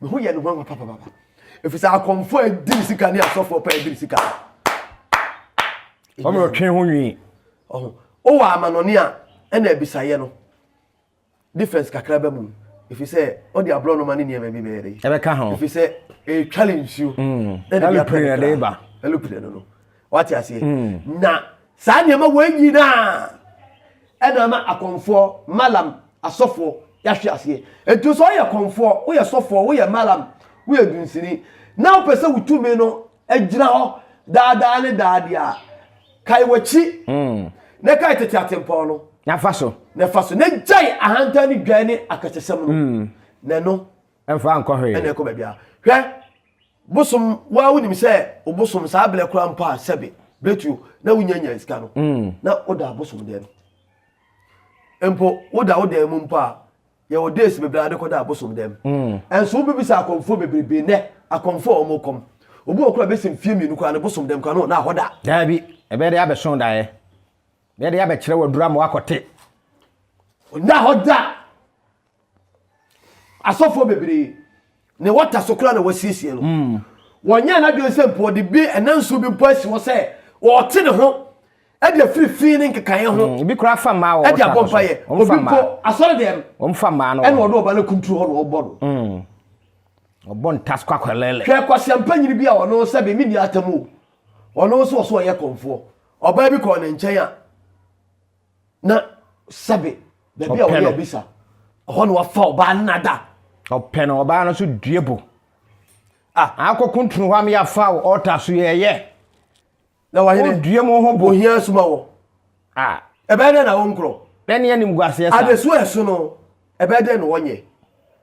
Me ho yɛ no nwanwa papapapa. Ɛfiri sɛ akɔmfoɔ a ɛdi ne sika ne asɔfoɔ paa ɛdi ne sika. Wɔn na ɔtwe ho nwi. Ɔho. Wowɔ amanɔne a ɛna abisaeɛ no difference kakra ba mu. Ɛfiri sɛ ɔde aborɔnoma ne nneɛma bi bɛyɛ dɛ. Ɛbɛka ho. Ɛfiri sɛ ɛtwale nsuo. Ɛlupire na ɛde ba. Ɛlupire no no. Wate aseɛ? Hmm. Na saa nneɛma wei nyinaa ɛna ama akɔmfoɔ, malam, asɔfoɔ, yɛahwe aseɛ. Nti sɛ ɔyɛ kɔmfoɔ, woyɛ sɔfoɔ, woyɛ malam, woyɛ dunsini, na wopɛ sɛ wotumi no agyina hɔ daadaa ne daade a, kae w'akyi hmm. na kae tete atempɔn no. Na fa so. Na fa so. Na gyae ahantan ne dwan ne akasasɛm no. Hmm. Na ɛno. Ɛmfa nkɔ hwee. Ɛna ɛkɔ baabiara. Hwɛ Bosom, wo ara wonim sɛ wo bosom saa berɛ koraa mpo a sɛbe bɛtuo na wonya nya sika no na woda abosom dan mu. Mpo woda wo dan mu mpo a yɛwɔ days bebree a wodekɔda abosom dan mu. Ɛnso wobɛbisa akɔmfoɔ bebrebe nnɛ akɔmfoɔ a wɔkɔm obi wɔ koraa bɛsi mfeɛ mmienu koraa no bosom dan mu koraa no na hɔ da. Daabi, ɛbɛyɛ dɛ abɛso daeɛ. Ɛbɛyɛ dɛ abɛkyerɛ waduru ama wakɔte. Ɔnna hɔ da. asɔfoɔ bebree ne wɔta so koraa na wɔasiesie no hmm. wɔnyɛ n'adwene sɛ mpo ɔde bi ɛna nsuo bi mpo asi hɔ sɛ ɔte ne ho ɛde afiri fi ne nkekaeɛ ho hmm, ebi koraa fa mmaa wɔ ɛde abɔ mpaeɛ obi mpo asɔre deɛ no ɛna ɔde ɔba no kunturu hɔ na ɔbɔ no hmm. ɔbɔ ntas kɔ akɔlɛlɛ hwɛ kwaseampa nyini bi a ɔno sɛ bɛmi ni atamu ɔno nso ɔso ɔyɛ kɔmfoɔ ɔbaa bi kɔɔ ne nkyɛn a na sɛbe baabi a wɔyɛ abisa ɛhɔ na wafa ɔbaa no nada ɔpɛ no ɔbaa no so due bo ah. akɔ kuntunu hɔ ama yɛafa wo ɔta so yɛyɛ na wahene odue mu ho bo ohia asuma wɔ ah. ɛbɛyɛ dɛ na wo nkorɔ ɛne anim guaseɛ sa adesuo ɛso no Ɛbɛyɛ dɛn na wɔnyɛ?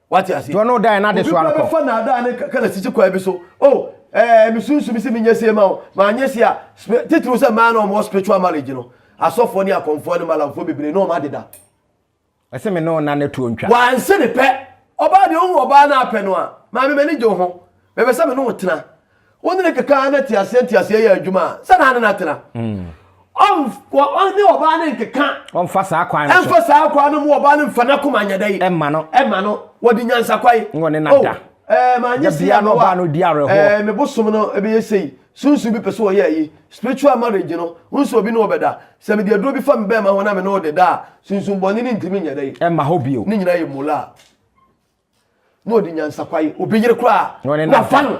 Wate ase? Dɔ no dan n'adesoa no kɔ. Obi bɛfa n'adaa ne kaka na sisi kwan bi so. Oh, ɛɛ, mi sunsun sɛ mi nyɛ se ma wo. Ma nyɛ se a, titiriw sɛ mmaa na wɔn wɔ spiritual marriage no. Asɔfoɔ ne akɔnfoɔ ne malamfoɔ bebree na wɔn adeda. Ɛsɛ me ne ɔna ne tuo ntwa. Wanse ne pɛ. Ɔbaa deɛ ohu ɔbaa na apɛ no a, maame m'ani gye wo ho. Mepɛ sɛ me ne wo tena. Wo ne no keka na teaseɛ nteaseɛ yɛ adwuma a, sɛ na ne na tena. Ɔne ɔbaa no nkeka. Ɔmfa saa kwan no so. Ɛmfa saa kwan no mu ɔbaa no mfa n'akoma nyɛ dɛ yi. Ɛma no. Ɛma no. Wɔde nyansakwan. Wɔ ne na oh, da. Ɛɛ maa nye si ano wa. Ɛɛ me bosom no ɛbɛyɛ sei. Sunsun bi pɛ so wɔyɛ ayi. Spiritual marriage no. Nso obi ne ɔbɛda. Sɛ mede aduro bi fa me bɛɛma ho na me ne ɔde da a, sunsun bɔne no ntumi nyɛ dɛ yi. Ɛma hɔ bio. Ne nyinaa yɛ mulaa. na ɔde nyansakwa yi obi yere koraa na ɔne na wafa no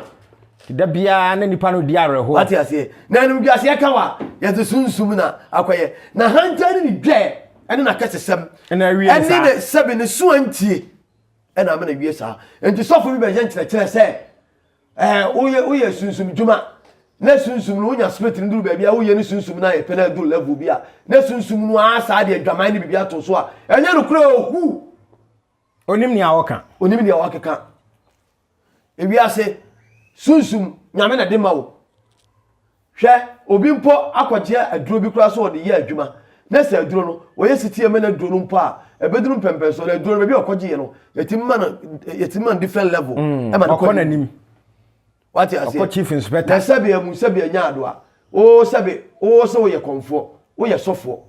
da biara na nipa no di awerɛhoɔ wate aseɛ na ɛnom dwaseɛ ka wa yɛde sunsum na akɔyɛ na hantan ne ne dwɛɛ ɛne nakɛsesɛm ɛna awie ne ɛne saa ne sɛbe ne so antie ɛna ama na wie saa nti sɔfo bi bɛyɛ nkyerɛkyerɛ sɛ ɛɛ woyɛ woyɛ sunsum dwuma na sunsum no wonya spirit no duru baabi a woyɛ ne sunsum no ayɛ pɛ na aduru level bi a na sunsum no aa saa deɛ adwaman ne biribi ato so a ɛnyɛ nokorɛ ohu Onim nea ɔka. Onim nea ɔkeka. Ewiase sunsum nyame na de ma wo. Hwɛ obi mpo akɔgye aduro bi koraa sɛ ɔde yɛ adwuma na sɛ aduro no wɔyɛ sitie ma no aduro no mpo a ɛbɛduru mpɛmpɛnsoɔ na aduro no baabi a ɔkɔgyeeɛ no yɛtumi ma no yɛtumi ma no different level mm, ɛma no kɔ n'anim wate aseɛ ɔkɔ chief inspector na sɛbe amu sɛbe anya adoa oo sɛbe oo sɛ woyɛ kɔmfoɔ woyɛ sɔfoɔ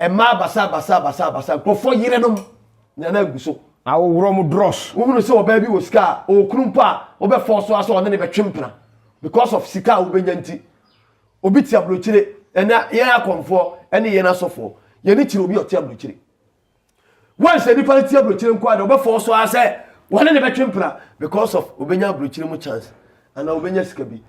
Mmaa basabasabasabasa, nkurɔfoɔ yerenom na na agu so. Ahohoro wɔn dross. Wohunu sɛ ɔbaa bi wɔ sika a, ɔwɔ kunu mpo a, wobɛfɔɔ so ara sɛ ɔne no bɛtwe mpena because of sika a wobɛnya nti. Obi te aburokyire, ɛnɛ yɛn akɔmfoɔ ne yɛn asɔfoɔ, yɛn ani kyerɛ obi a ɔte aburokyire. Wɔnhyɛ nipa nti aburokyire nko a na ɔbɛfɔ so ara sɛ wɔne ne bɛtwe mpena because of obenya aburokyire mu chance anaa obenya sika bi.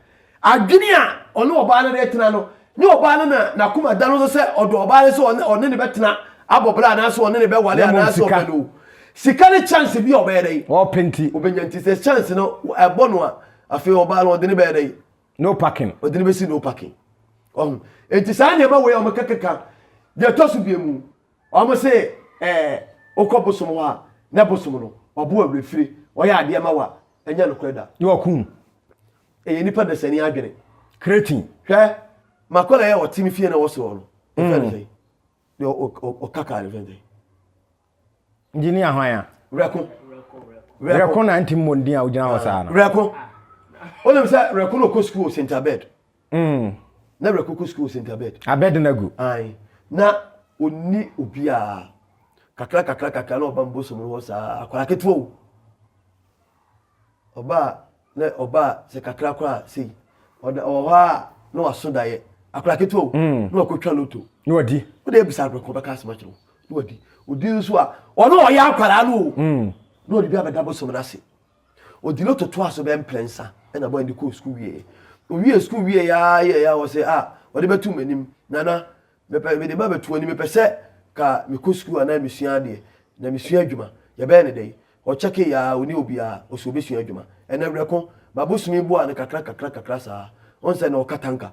Adwene a ɔne ɔbaa no de tena no ne ɔbaa no na n'akoma da no so sɛ ɔdɔ ɔbaa no sɛ ɔne ne bɛtena abɔ bra anaasɛ ɔne ne bɛware anaasɛ ɔpɛ no. Sika ne chance bi a ɔbɛyɛ dɛn? Ɔpɛ nti. Obenya nti sɛ chance no ɛbɔ no a afei ɔbaa no ɔde ne bɛyɛ dɛn? No parking. Ɔde ne bɛsi no parking. Ɔho. Enti saa nneɛma wei a wɔkɛkɛka deɛ ɛtɔ so biemu. Wɔn se eh wokɔ bosom hɔ a na bosom no ɔbo awerɛfire ɔyɛ adeɛ ma wo a ɛnyɛ nokorɛ da. Ne waku no. Ɛyɛ nnipa dasani adwene. Cretin. Hwɛ makɔla yɛ ɔte ne fie na wɔse wɔ no ɛfɛ no sɛn deɛ ɔka kaa no fɛ sɛn. Engineer hwan a? Werɛko. Werɛko na nti mmɔ ndin a wogyina hɔ saa no. Werɛko. Wonim sɛ werɛko na ɔkɔ sukuu wɔ St. Abed. Mm. Na wura koko school sent abed. Abed na gu. Ayi. Na oni obiara. Kakra kakra kakra na ɔba mbosom no hɔ saa akwara ketewa o. Ɔba na ɔba sɛ kakra kora sei. Ɔda ɔwɔ hɔ a na waso dayɛ. Akwara ketewa o. Mm. Na wakotwa loto. Na wadi. Wode ebisa akwara kɔ bɛka asɛm akyerɛ Na wadi. Odi nso a ɔno ɔyɛ akwara no o. Mm. Na ɔde bi abɛda bosom no ase. Ɔdi lotto toaa so bɛyɛ mprɛnsa na boy no de kɔɔ sukuu wieeɛ. Ɔwiee sukuu wieeɛ ara yɛeɛ a ɔsɛ a ɔde bɛto m'anim, Nana, mepɛ mede ba bɛto w'anim, mepɛ sɛ ka mekɔ sukuu anaa mesua adeɛ na mesua adwuma. Yɛbɛyɛ no dɛn? Ɔkyɛkeeɛ ara, ɔnni obiara, ɔsɛ ɔbɛsua adwuma. Ɛnna Awerɛko, m'abosome boaa no kakra kakra kakra saa. Wohu sɛ na ɔka tanka.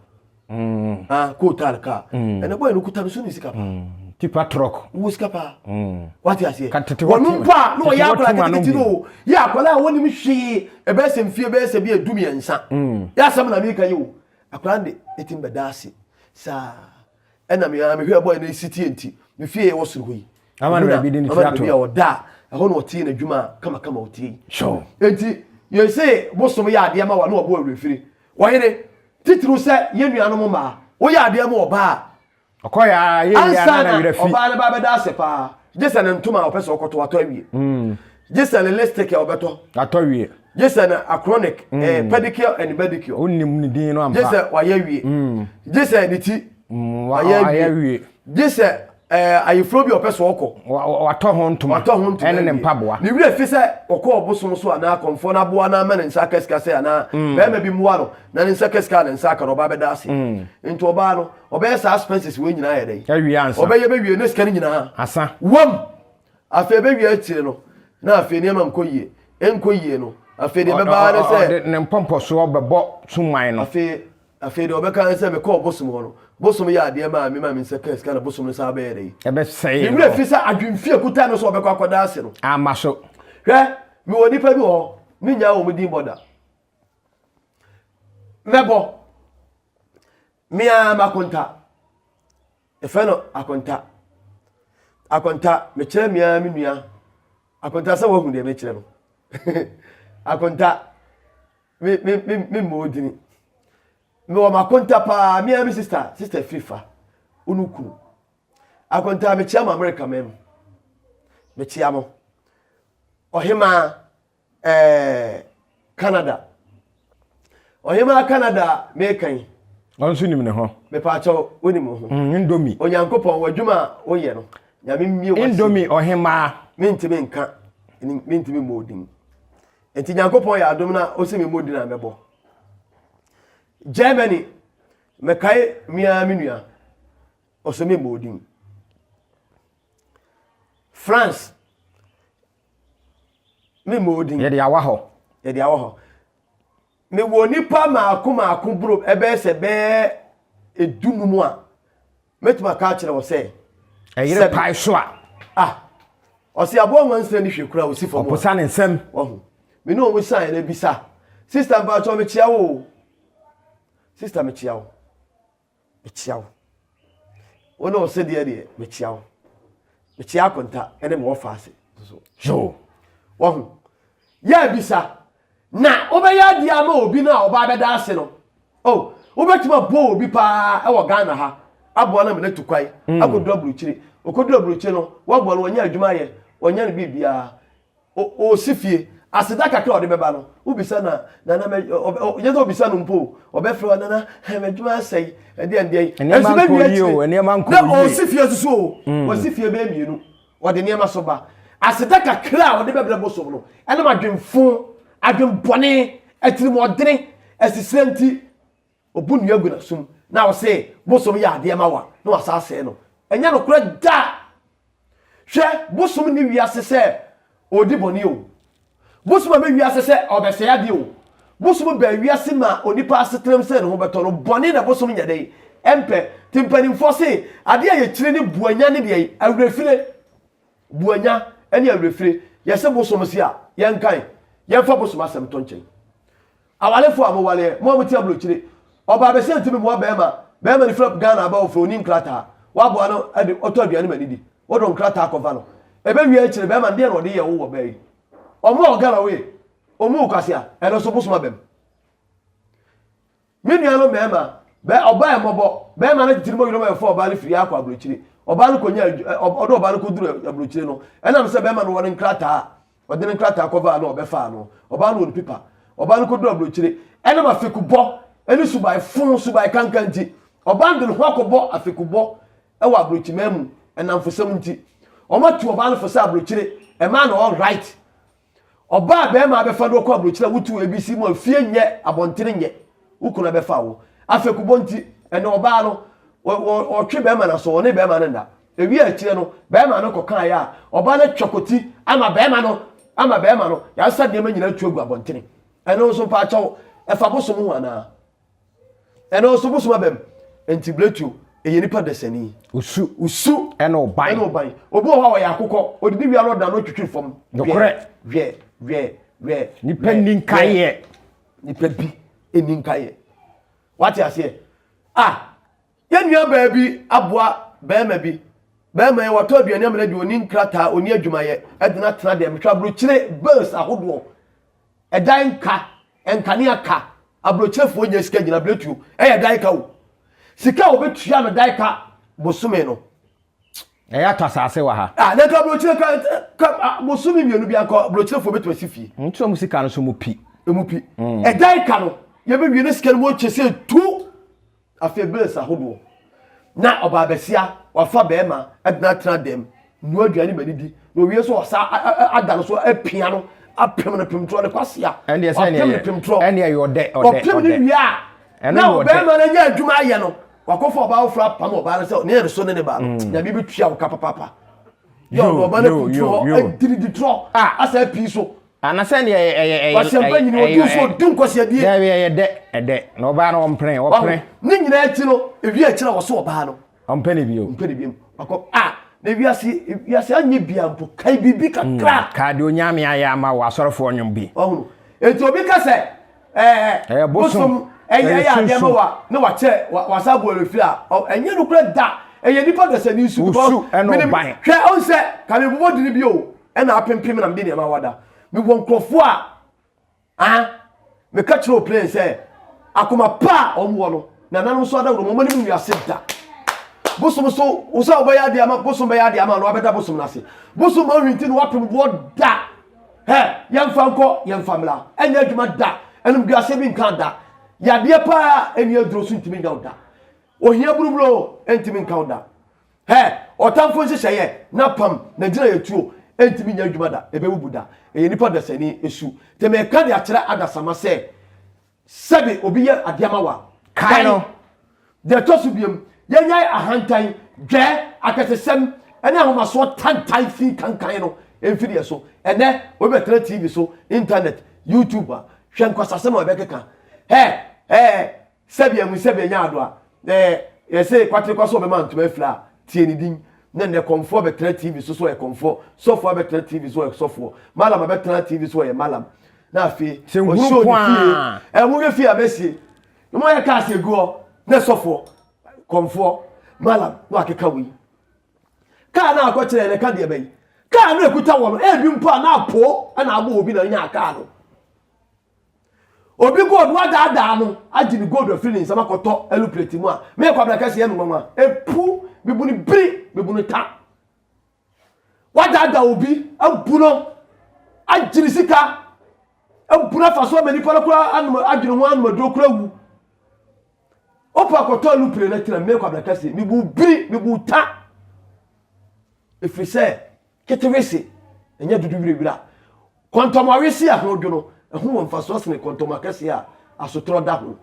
Mm. Ah, ko tal ka. Mm. Ene boy no kuta no so ni sika pa. Mm. Tipa truck. Wo sika pa. Mm. Wati ase. Ka tete watu. Wonu pa no ya kola tete tete no. Ya kola woni mi hwe e be se mfie be se bi edumi ensa. Mm. Ya sam na mi ka yo. Akola nde etim be dase. Sa ena mi ami hwe boy no esiti enti. Mi fie ye wosoro ho yi. Ama na bi de ni tiato. Ama na bi da. Eho no tie na dwuma kama kama otie. Sure. Enti ye se bosom ya ade ama wa no obo awrefiri. Ɔyere, titiriw sɛ yɛn nuanom mmaa, woyɛ adeɛ ama ɔbaa a, ɔkɔeɛ ara yɛ yie ara na ne werɛ fi. Ansa na ɔbaa no ba bɛda ase pa ara, gye sɛ ne ntoma a ɔpɛ sɛ ɔkɔtɔ atɔ awie, gye sɛ ne lipstick a ɔbɛtɔ atɔ awie, gye sɛ ne acronic, pedicure and manicure, wonnim ne din no ampa, gye sɛ wayɛ awie, gye sɛ ne ti wayɛ awie, gye sɛ Ɛɛ ayeforo bi a ɔpɛ so ɔkɔ. Watɔ ho ntoma. Watɔ ho ntoma. Ɛne ne mpaboa. Ne werɛ fi sɛ ɔkɔ ɔbosom so anaa akɔmfoɔ no aboa no ama ne nsa aka sika sɛ anaa mm. bɛrima bi mmoa no na ne nsa ka sika a ne nsa aka no ɔbaa bɛda ase. Mm. Nti ɔbaa no ɔbɛyɛ saa expenses wei nyinaa yɛ dɛn? Awie ansa. Ɔbɛyɛ bɛwie ne sika no nyinaa. Asa. Wam. Afei bɛwie akyire no na afei nneɛma nkɔ yie. Nkɔ yie no afei deɛ bɛbaa ne sɛ. Ne mpɔmpɔsoɔ bɛbɔ suman no. Afei Afei deɛ ɔbɛka ne sɛ, Mekɔɔ bosom hɔ no, bosom yɛɛ adeɛ maa me maa me nsa kaa sika na bosom no san bɛyɛɛ dɛn? Ɛbɛsɛee no. Ne werɛ firi sɛ adwemfi a ɛkuta no sɛ ɔbɛkɔ akɔda ase no. Amma so. Hwɛ, mewɔ nnipa bi wɔ hɔ, mennyaa wɔn din bɔ da. Mɛbɔ. Me ara m'akonta. Ɛfɛ no akonta. Akonta, mekyerɛ me ara me nua. Akonta sɛ wahu deɛ mekyerɛ no. akonta, Me me me me mmɔ odini. Me wɔ m'akonta paa me ara me sista sista firi fa unu kunu. Akonta me kyia mo Amerika man mu. Me kyia mo. Ɔhemaa ɛɛ Canada. Ɔhemaa Canada me kan yi. Ɔno nso nim ne ho. Mepaakyɛ wonim wo ho. Mm, Indomie. Onyankopɔn w'adwuma a woyɛ no. Nyame mmie w'ase. Indomie ɔhemaa. Mentumi nka, mentumi mmɔ odin. Enti Nyankopɔn yɛ adom na ose me mmɔ din a mɛbɔ. Germany, mɛkae me ara me nua, ɔse me mmɔ din. France, me mmɔ din. Yɛde awɔ hɔ. Yɛde awɔ hɔ. Mewɔ nnipa mmaako mmaako boro ɛbɛyɛ sɛ bɛyɛ dunum a mɛtumi aka akyerɛ wɔ sɛ. Ɛyere pae so a. Ah, ɔsi aboa nwansena ni hwɛ kura osi fam. Ɔposa ne nsɛm. Wahu. Me ne wɔn san yɛn abisa. Sista mpatsɔ mekyia wo. Sista mekyia wo. mekyia wo. Wo ne ɔsɛdeɛ deɛ, mekyia wo. Mekyia akonta ne me wɔfa ase nso. Yoo, wahu. Yɛ abisa, na wobɛyɛ adeɛ ama obi no a ɔbaa bɛda ase no. Oh, wobɛtumi aboa obi paa wɔ Ghana ha, aboa no ama no atu kwan, mm. akɔduru aburukyire. Ɔkɔduru aburukyire no, woaboa no, wɔnyɛ adwuma yɛ, wɔnyɛ no biribiara. Ɔsi fie, aseda kakra a ɔde bɛba no, wobisa no a, Nana, ɛnyɛ sɛ obisa no mpo o, ɔbɛfrɛ wo, Nana, m'adwuma asɛe, ɛdeɛn deɛn. Nneɛma nkɔɔ yie o, nneɛma nkɔɔ yie. Na ɔsi fie nso o, wasi fie bɛyɛ mmienu, ɔde nneɛma so ba. Aseda kakra a ɔde bɛbrɛ bosom no, ɛnam adwemfo, adwembɔne, atirimuɔdene, asisire nti. Obu nua gu n'asom na ɔse bosom yɛ adeɛ ma wo a, na wasan asɛe no. Ɛnyɛ nokorɛ da! Hwɛ, bosom nni wiase sɛ ɔredi bɔne o. Bosom amma wiase sɛ ɔrebɛsɛe adeɛ o. Bosom baa wiase maa onipa asetenam sɛdeɛ ne ho bɛtɔ no. Bɔne na bosom nyɛ dɛn? Ɛmpɛ. Nti mpanimfoɔ se adeɛ a yɛkyiri ne buanya ne deɛn? Awerɛfire. Buanya ne awerɛfire. Yɛse bosom se a, yɛnkan. Yɛmfa bosom asɛm to nkyɛn. Awarefo a moware ɛ, mo a mote aburokyire, ɔbaa bɛsɛ ntumi mmoa barima, barima no fira Ghana aba ɔfrɛ ɔnni nkrataa, woaboa no de ɔtɔ aduane ma no di, wode wo nkrataa kɔfa no, ɛbɛwie akyire barima no deɛn na ɔde yɛɛ wo wɔ baa yi? Ɔmo a ɔgana wo yi, ɔmmu wo kwasea, ɛno nso bosom aba mu. Me nuanom mmarima, bɛ ɔbaa mmɔbɔ, barima no atitiri moyere mo a ɛfa ɔbaa no firi ha akɔ aburokyire, ɔbaa no kɔnya adwu, ɛ, ɔde ɔbaa no kɔduru aburokyire no, ɛnam sɛ barima no wɔ ne nkrataa a, Ɔde ne nkrataa kɔfaa no a ɔbɛfaa no. Ɔbaa no wɔ ne pipa. Ɔbaa no kɔduruu aburokyire. Ɛnam afekubɔ ne subae fõ, subae kanka nti, ɔbaa no de ne ho akɔbɔ afekubɔ wɔ aburokyimaa mu nnamfosɛm nti. Wɔatu ɔbaa no fo sɛ aburokyire mmaa na wɔn right. Ɔbaa a barima abɛfa no akɔ aburokyire a wotu ABC mu a fie nyɛ, abɔntene nyɛ, wo kunu abɛfa wo. Afekubɔ nti, ɛnnɛ ɔbaa no, ɔ, ɔ, ɔtwe barima no aso, ɔne barima no nna. Ewiee akyire no, barima no kɔkaeɛ a, ɔbaa no atwa kɔti ama barima no, ama barima no, yɛasesa nneɛma nyinaa atu agu abɔntene. Ɛno nso mpaakyɛw, ɛfa bosom ho anaa? Ɛno nso bosom aba mu. Nti Bletio, ɛyɛ nipa dasani. Osu. Osu. Ɛna ɔban. Ɛna ɔban. Obi wɔ hɔ a ɔyɛ akokɔ, ɔdidi wia no ɔdan no ɔtwitwiri fam. Nokorɛ. Wɛ, wɛ, wɛ. Nipa nni nkaeɛ. Nipa bi nni nkaeɛ. Wate aseɛ? Ah! Yɛn nuabaa bi aboa barima bi. Barima yi, watɔ aduane amena bi, ɔni nkrataa, ɔni adwumayɛ, ɛde no atena dɛm. Hwɛ aburokyire bills ahodoɔ, ɛdan nka, nkanea ka, aburokyerefoɔ nyɛ sika gyina biletuo, ɛyɛ dan ka o. Sika a wɔbɛtua no dan ka bosome no. Ɛyɛ atɔ asase wɔ ha. Ah, na nka aburokyire ka, ka ah, bosome mmienu bi anka aburokyerefoɔ bɛtumi asi fie. Nti wɔn sika no so mu pi. Emu pi. Mm. Ɛdan ka no, yɛbɛwie ne sika no mu ɔkyɛ sɛ tu. Afei bills ahodoɔ na ɔbaa basia wafa bɛrima adena tena dɛm nua aduane ma ne di na owie so ɔsa ada no so apia no apem no pem torɔ ne kwasia ɔpem no pem torɔ ɔpem no wie a na ɔbɛrima no anya adwuma ayɛ no wakɔfa ɔbaa foforɔ apam ɔbaa no sɛ ne yɛn so ne ne baa no mm. nyame bɛtua wo ka papapa yɛ ɔno ɔba no kutu hɔ adidi torɔ asɛ pii so anasɛ deɛ ɛyɛ ɛyɛ ɛyɛ wahyɛmpa nyini ɔdunfoɔ ɔdu nkwaseadeɛ daabi ɛyɛ dɛ ɛdɛ na ɔbaa no ɔmpene ɔpene ne nyina akyi no ewi akyerɛ a wɔso ɔbaa no ɔmpɛ ne bio ɔmpɛ ne bio wakɔ a na wiase wiase anyɛ bia mpo kae biribi kakra hmm, kaa deɛ onyame ayɛ ama wɔ asɔrefoɔ nwom bi ɔhunu enti obi ka sɛ ɛɛ bosom ɛyɛ ɛyɛ adeɛ ma wa na wa kyɛ wa wa sa bɔ efi a ɔ ɛnyɛ no kura da ɛyɛ nipa dasa ni su because mene hwɛ ɔn sɛ kame bɔbɔ dini bi o ɛna apempem na mede nneɛma wada me wɔ nkurɔfoɔ a ah meka kyerɛ o plane sɛ akoma pa a wɔn wɔ no na nanom so adaworo wɔn anim wiase da bosom so wosɛ wɔbɛyɛ adeɛ ama bosom bɛyɛ adeɛ ama no wabɛda bosom no ase bosom ma ɔhwinti no wapem boɔ da hɛ yɛmfa nkɔ yɛmfa mmra ɛnyɛ adwuma da animguaseɛ bi nka da yadeɛ paa ɛni aduro so ntumi nyaw da ohia buruburo ɛntumi nkaw da hɛ ɔtamfo nhyehyɛeɛ na pam na gyina yɛ tuo ɛntumi nya adwuma da ɛbɛwubu da ɛyɛ nipa dasani ɛsu tɛmɛ ɛka de akyerɛ adasama sɛ Sɛbe obi yɛ adeɛ ama wo a, kae no. Deɛ ɛtɔ so biom, yɛnyae ahantan, dwɛ, akɛsesɛm, ne ahomasoɔ tantae fii kankan no mfiri yɛn so. Ɛnnɛ, obi bɛtena TV so, Intanɛt, YouTube a, hwɛ nkwasasɛm a ɔbɛkeka. Hɛ! Ɛɛ! Sɛbe amu sɛbe anya ado a, ɛɛ! Yɛse kwatere kɔ so ɔbɛma ntoma afira a, tie ne din. Nnɛ nnɛ, kɔmfoɔ bɛtena TV so sɛ ɔyɛ kɔmfoɔ, sɔfoɔ abɛtena TV so ɔyɛ sɔfoɔ, malam abɛtena TV so ɔyɛ malam. na afei ɔhyɛɛ ne fie ɛho yɛ fie abɛsie na wɔyɛ kaa se guɔ na sɔfoɔ kɔmfoɔ malam na wakeka wei kaa na akɔkyerɛ na ɛka deɛ bɛyi kaa na ɛkuta wɔ no ɛbi mpo a na apo na abɔ obi na nya kaa no obi gold wadaadaa no agye ne gold afiri ne nsɛm akɔtɔ ɛlu plate mu a mekɔ abrakɛseɛ no nwanwa ɛpu bibuni biri bibuni ta Woadaadaa obi, abu no, agye ne sika, abu no afa so ama nipa no koraa anom adwene ho anom aduro koraa wu. Wopɛ akɔtɔ alupere no tena mmea kwabra kɛse, mebu biri, mebu ta. Ɛfiri sɛ ketewese ɛnyɛ dodo wirawira. Kɔntɔmɔ wese a ho dwo no, ɛho wɔ mfasoɔ sene kɔntɔmɔ akɛseɛ a asotorɔ da ho.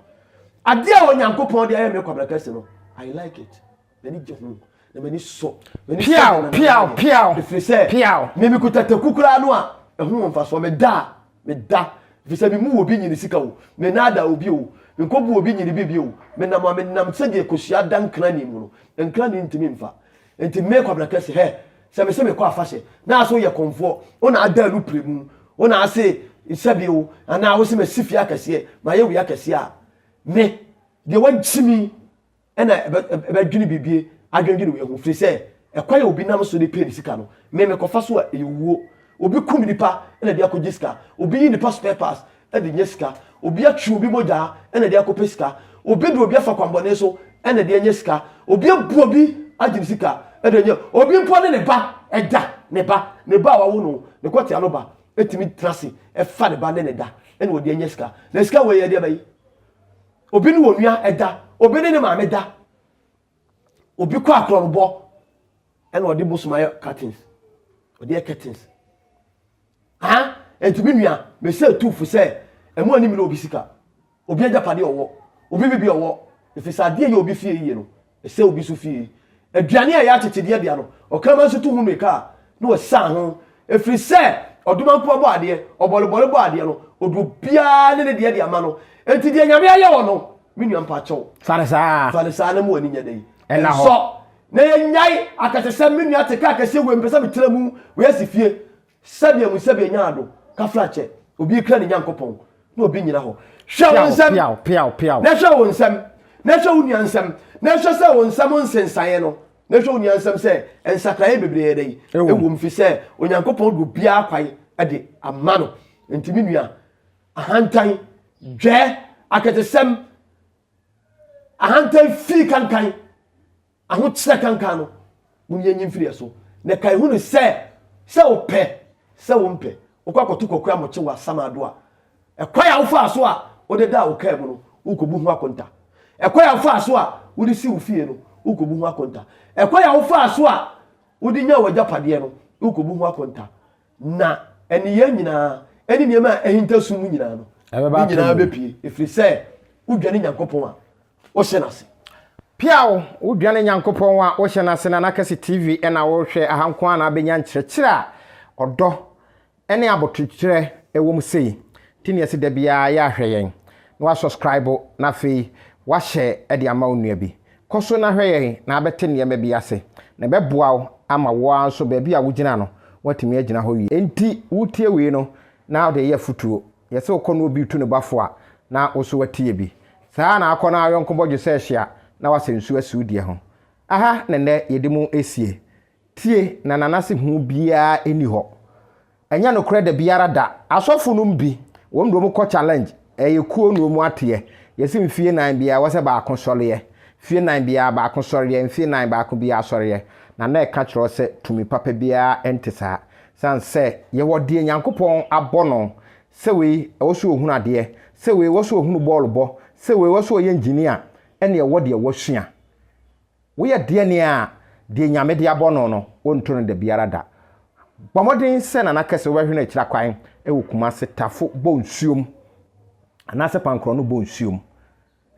Adeɛ a Onyankopɔn de ayɛ mmea kwabra kɛse no, I like it. M'ani gye ho, na m'ani sɔ. M'ani sɔ Piaw, nananana. piaw, piaw, Ɛfiri sɛ, piaw. me mekuta taku koraa no a, ɛho wɔ mfasoɔ. Meda a, meda. Ɛfiri sɛ, memmu obi nyini sika o, mennaadaa obi o, menkɔbu obi nyini biribi o. Menam a, menam sɛdeɛ kosua da nkran mu no, nkran ntumi mfa. Enti me, Kwabena Kɛse, hɛ, sɛ mese mekɔ afahyɛ, na ase woyɛ kɔmfoɔ, wo na ada anu prɛmu, wo na ase sɛbi o, anaa wose masi fie akɛseɛ, mayɛ wei akɛseɛ a, me, deɛ woagye me, ɛna ɛbɛdwene bibie adwendwene wei ho firi sɛ ɛkwan a obi nam so de pɛ ne sika no me mekɔfa so a ɛyɛ owuo obi kum nipa ɛna de akɔgye sika obi yi nipa spare parts ɛde nyɛ sika obi atwe obi mogyaa ɛna de akɔpɛ sika obi de obi afa kwambɔne so ɛna de nyɛ sika obi abu obi agye ne sika ɛde nyɛ obi mpo ne ne ba ɛda ne ba ne ba a wawo no ne kɔtea no ba ɛtumi tena se ɛfa ne ba ne ne da ɛna ɔde nyɛ sika na sika wɔ yɛ deɛ bɛyi Obi ne onua ɛda, obi ne ne maame da. Obi kɔ akorɔnobɔ ɛna ɔde bosom ayɛ curtains. Ɔde yɛ curtains. Ha, enti me nua, mesɛ tuufo sɛ ɛmo ani mene obi sika, obi agyapadeɛ ɔwɔ, obi bibi ɔwɔ, ɛfiri sɛ adeɛ yɛ obi fie yie no, Ɛsɛ obi so fie aduane a ɛyɛ akyekyedeɛ dea no, ɔkraman nso to ho mmirika a, na ɔsiane ho, ɛfiri sɛ ɔdomankuo bɔ adeɛ, ɔbɔrebɔre bɔ adeɛ no, ɔde obiara ne ne deɛ de ama no, enti deɛ Nyame ayɛ wɔ no, me nua mpa kyɛw. Fa no saa. Fa no saa na ma w'ani nyɛ dɛn? Ɛnsɔ. Na yɛnyae akɛse sɛ me nua te kaa kɛseɛ wei, mepɛ sɛ metra mu, wei asi fie. Sɛdeɛ mu sɛdeɛ nyaa do kaflakyɛ obi ekura ne Nyankopɔn na obi nyina hɔ. Hwɛ wo nsɛm, na hwɛ wo nsɛm, na hwɛ wo nua nsɛm, na hwɛ sɛ wo nsɛm nsensaeɛ no, na hwɛ wo nua nsɛm sɛ nsakraeɛ bebree yɛ dɛn wɔ mu, firi sɛ Onyankopɔn de obiara kwan de ama no. Enti me nua, ahantan, dwɛ, akɛtesɛm, ahantan fii kankan. Ahokyerɛ kankan no, mu no yɛnyi mfiri ɛso, na kae hu no sɛ, sɛ wopɛ, sɛ wompɛ, wokɔ akɔto kwaku amokye wɔ asaman do a, ɛkwan a wofaa so a wode daa wo kaa mu no, worekɔbu ho akonta. Ɛkwan a wofaa so a wode sii wo fie no, worekɔbu ho akonta. Ɛkwan a wofaa so a wode nyaa w'agyapadeɛ no, worekɔbu ho akonta. Na nneyɛɛ nyinaa, ɛne nneɛma a ahinta sum mu nyinaa no, ne nyinaa bɛpue, ɛfiri sɛ wodwane Nyankopɔn a wohyɛ no ase. Piaw, wodwane Nyankopɔn a wohyɛ no ase na na kɛse TV na worehwɛ, aha nko ara na wobɛnya nkyerɛkyerɛ a ɔdɔ ne abotokyerɛ wɔ mu sei nti na yɛse da biara yɛ ahwɛ yɛn na wasɔskraibo na afei wahyɛ de ama wo nua bi Kɔ so na hwɛ yɛn na abɛte nneɛma bi ase, na ɛbɛboa wo ama wo ara nso baabi a wugyina no, woatumi agyina hɔ wie. Enti wutie wei no na wode yɛ afotuo. Yɛse wokɔ na obi retu ne bo afo a, na wo nso woatie bi. Saa ara na akɔ na yɔnko bɔ dwesɛ hyia na wasa nsuo asi wo deɛ ho. Aha na nnɛ yɛde mu resie. Tie, na nanase hu biara nni hɔ. Ɛnyɛ nokorɛ dabiara da. Asɔfo nom bi, wɔn deɛ wɔn kɔ challenge, ɛyɛ kuo na wɔn ateɛ. Yɛse mfie nan biara ɛwɔ sɛ baako sɔreɛ. Fie nan biara baako sɔreɛ, mfie nan baako biara sɔreɛ. Na na ɛka kyerɛ wo sɛ tumi papa biara nte saa. Sane sɛ yɛwɔ deɛ Nyankopɔn abɔ no, sɛ wei ɛwɔ sɛ ɔhunu adeɛ, sɛ wei ɛwɔ sɛ ɔhunu bɔɔlo bɔ, sɛ wei ɛwɔ sɛ ɔyɛ engineer, ɛne ɛwɔ deɛ wasua. Woyɛ deɛn a, deɛ Nyame de abɔ no no, wonto no da biara da. Bɔ mmɔden sɛ Nana Kɛse wobɛhwene akyira kwan wɔ Kumase Tafo Bonsuom anaasɛ Pankorɔno Bonsuom.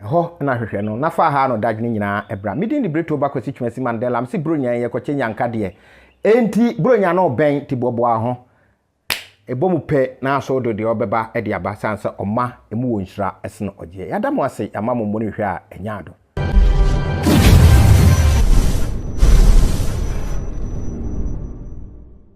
Ɛhɔ na hwehwɛ no na fa ha no dadwene nyinaa bra. Me din de Bretoo ba Kwasi Twumasi Mandela. Mese Buronya yi, yɛkɔkyɛ Nyanka deɛ. Enti Buronya no rebɛn, nti boaboa wo ho. Ɛbɔ mu pɛ na aso do deɛ ɔbɛba de aba san sɛ ɔma emu wɔ nhyira sen ɔgyeɛ. Yɛada mo ase, yɛama mo mmɔne hwɛ a ɛnyɛ ado.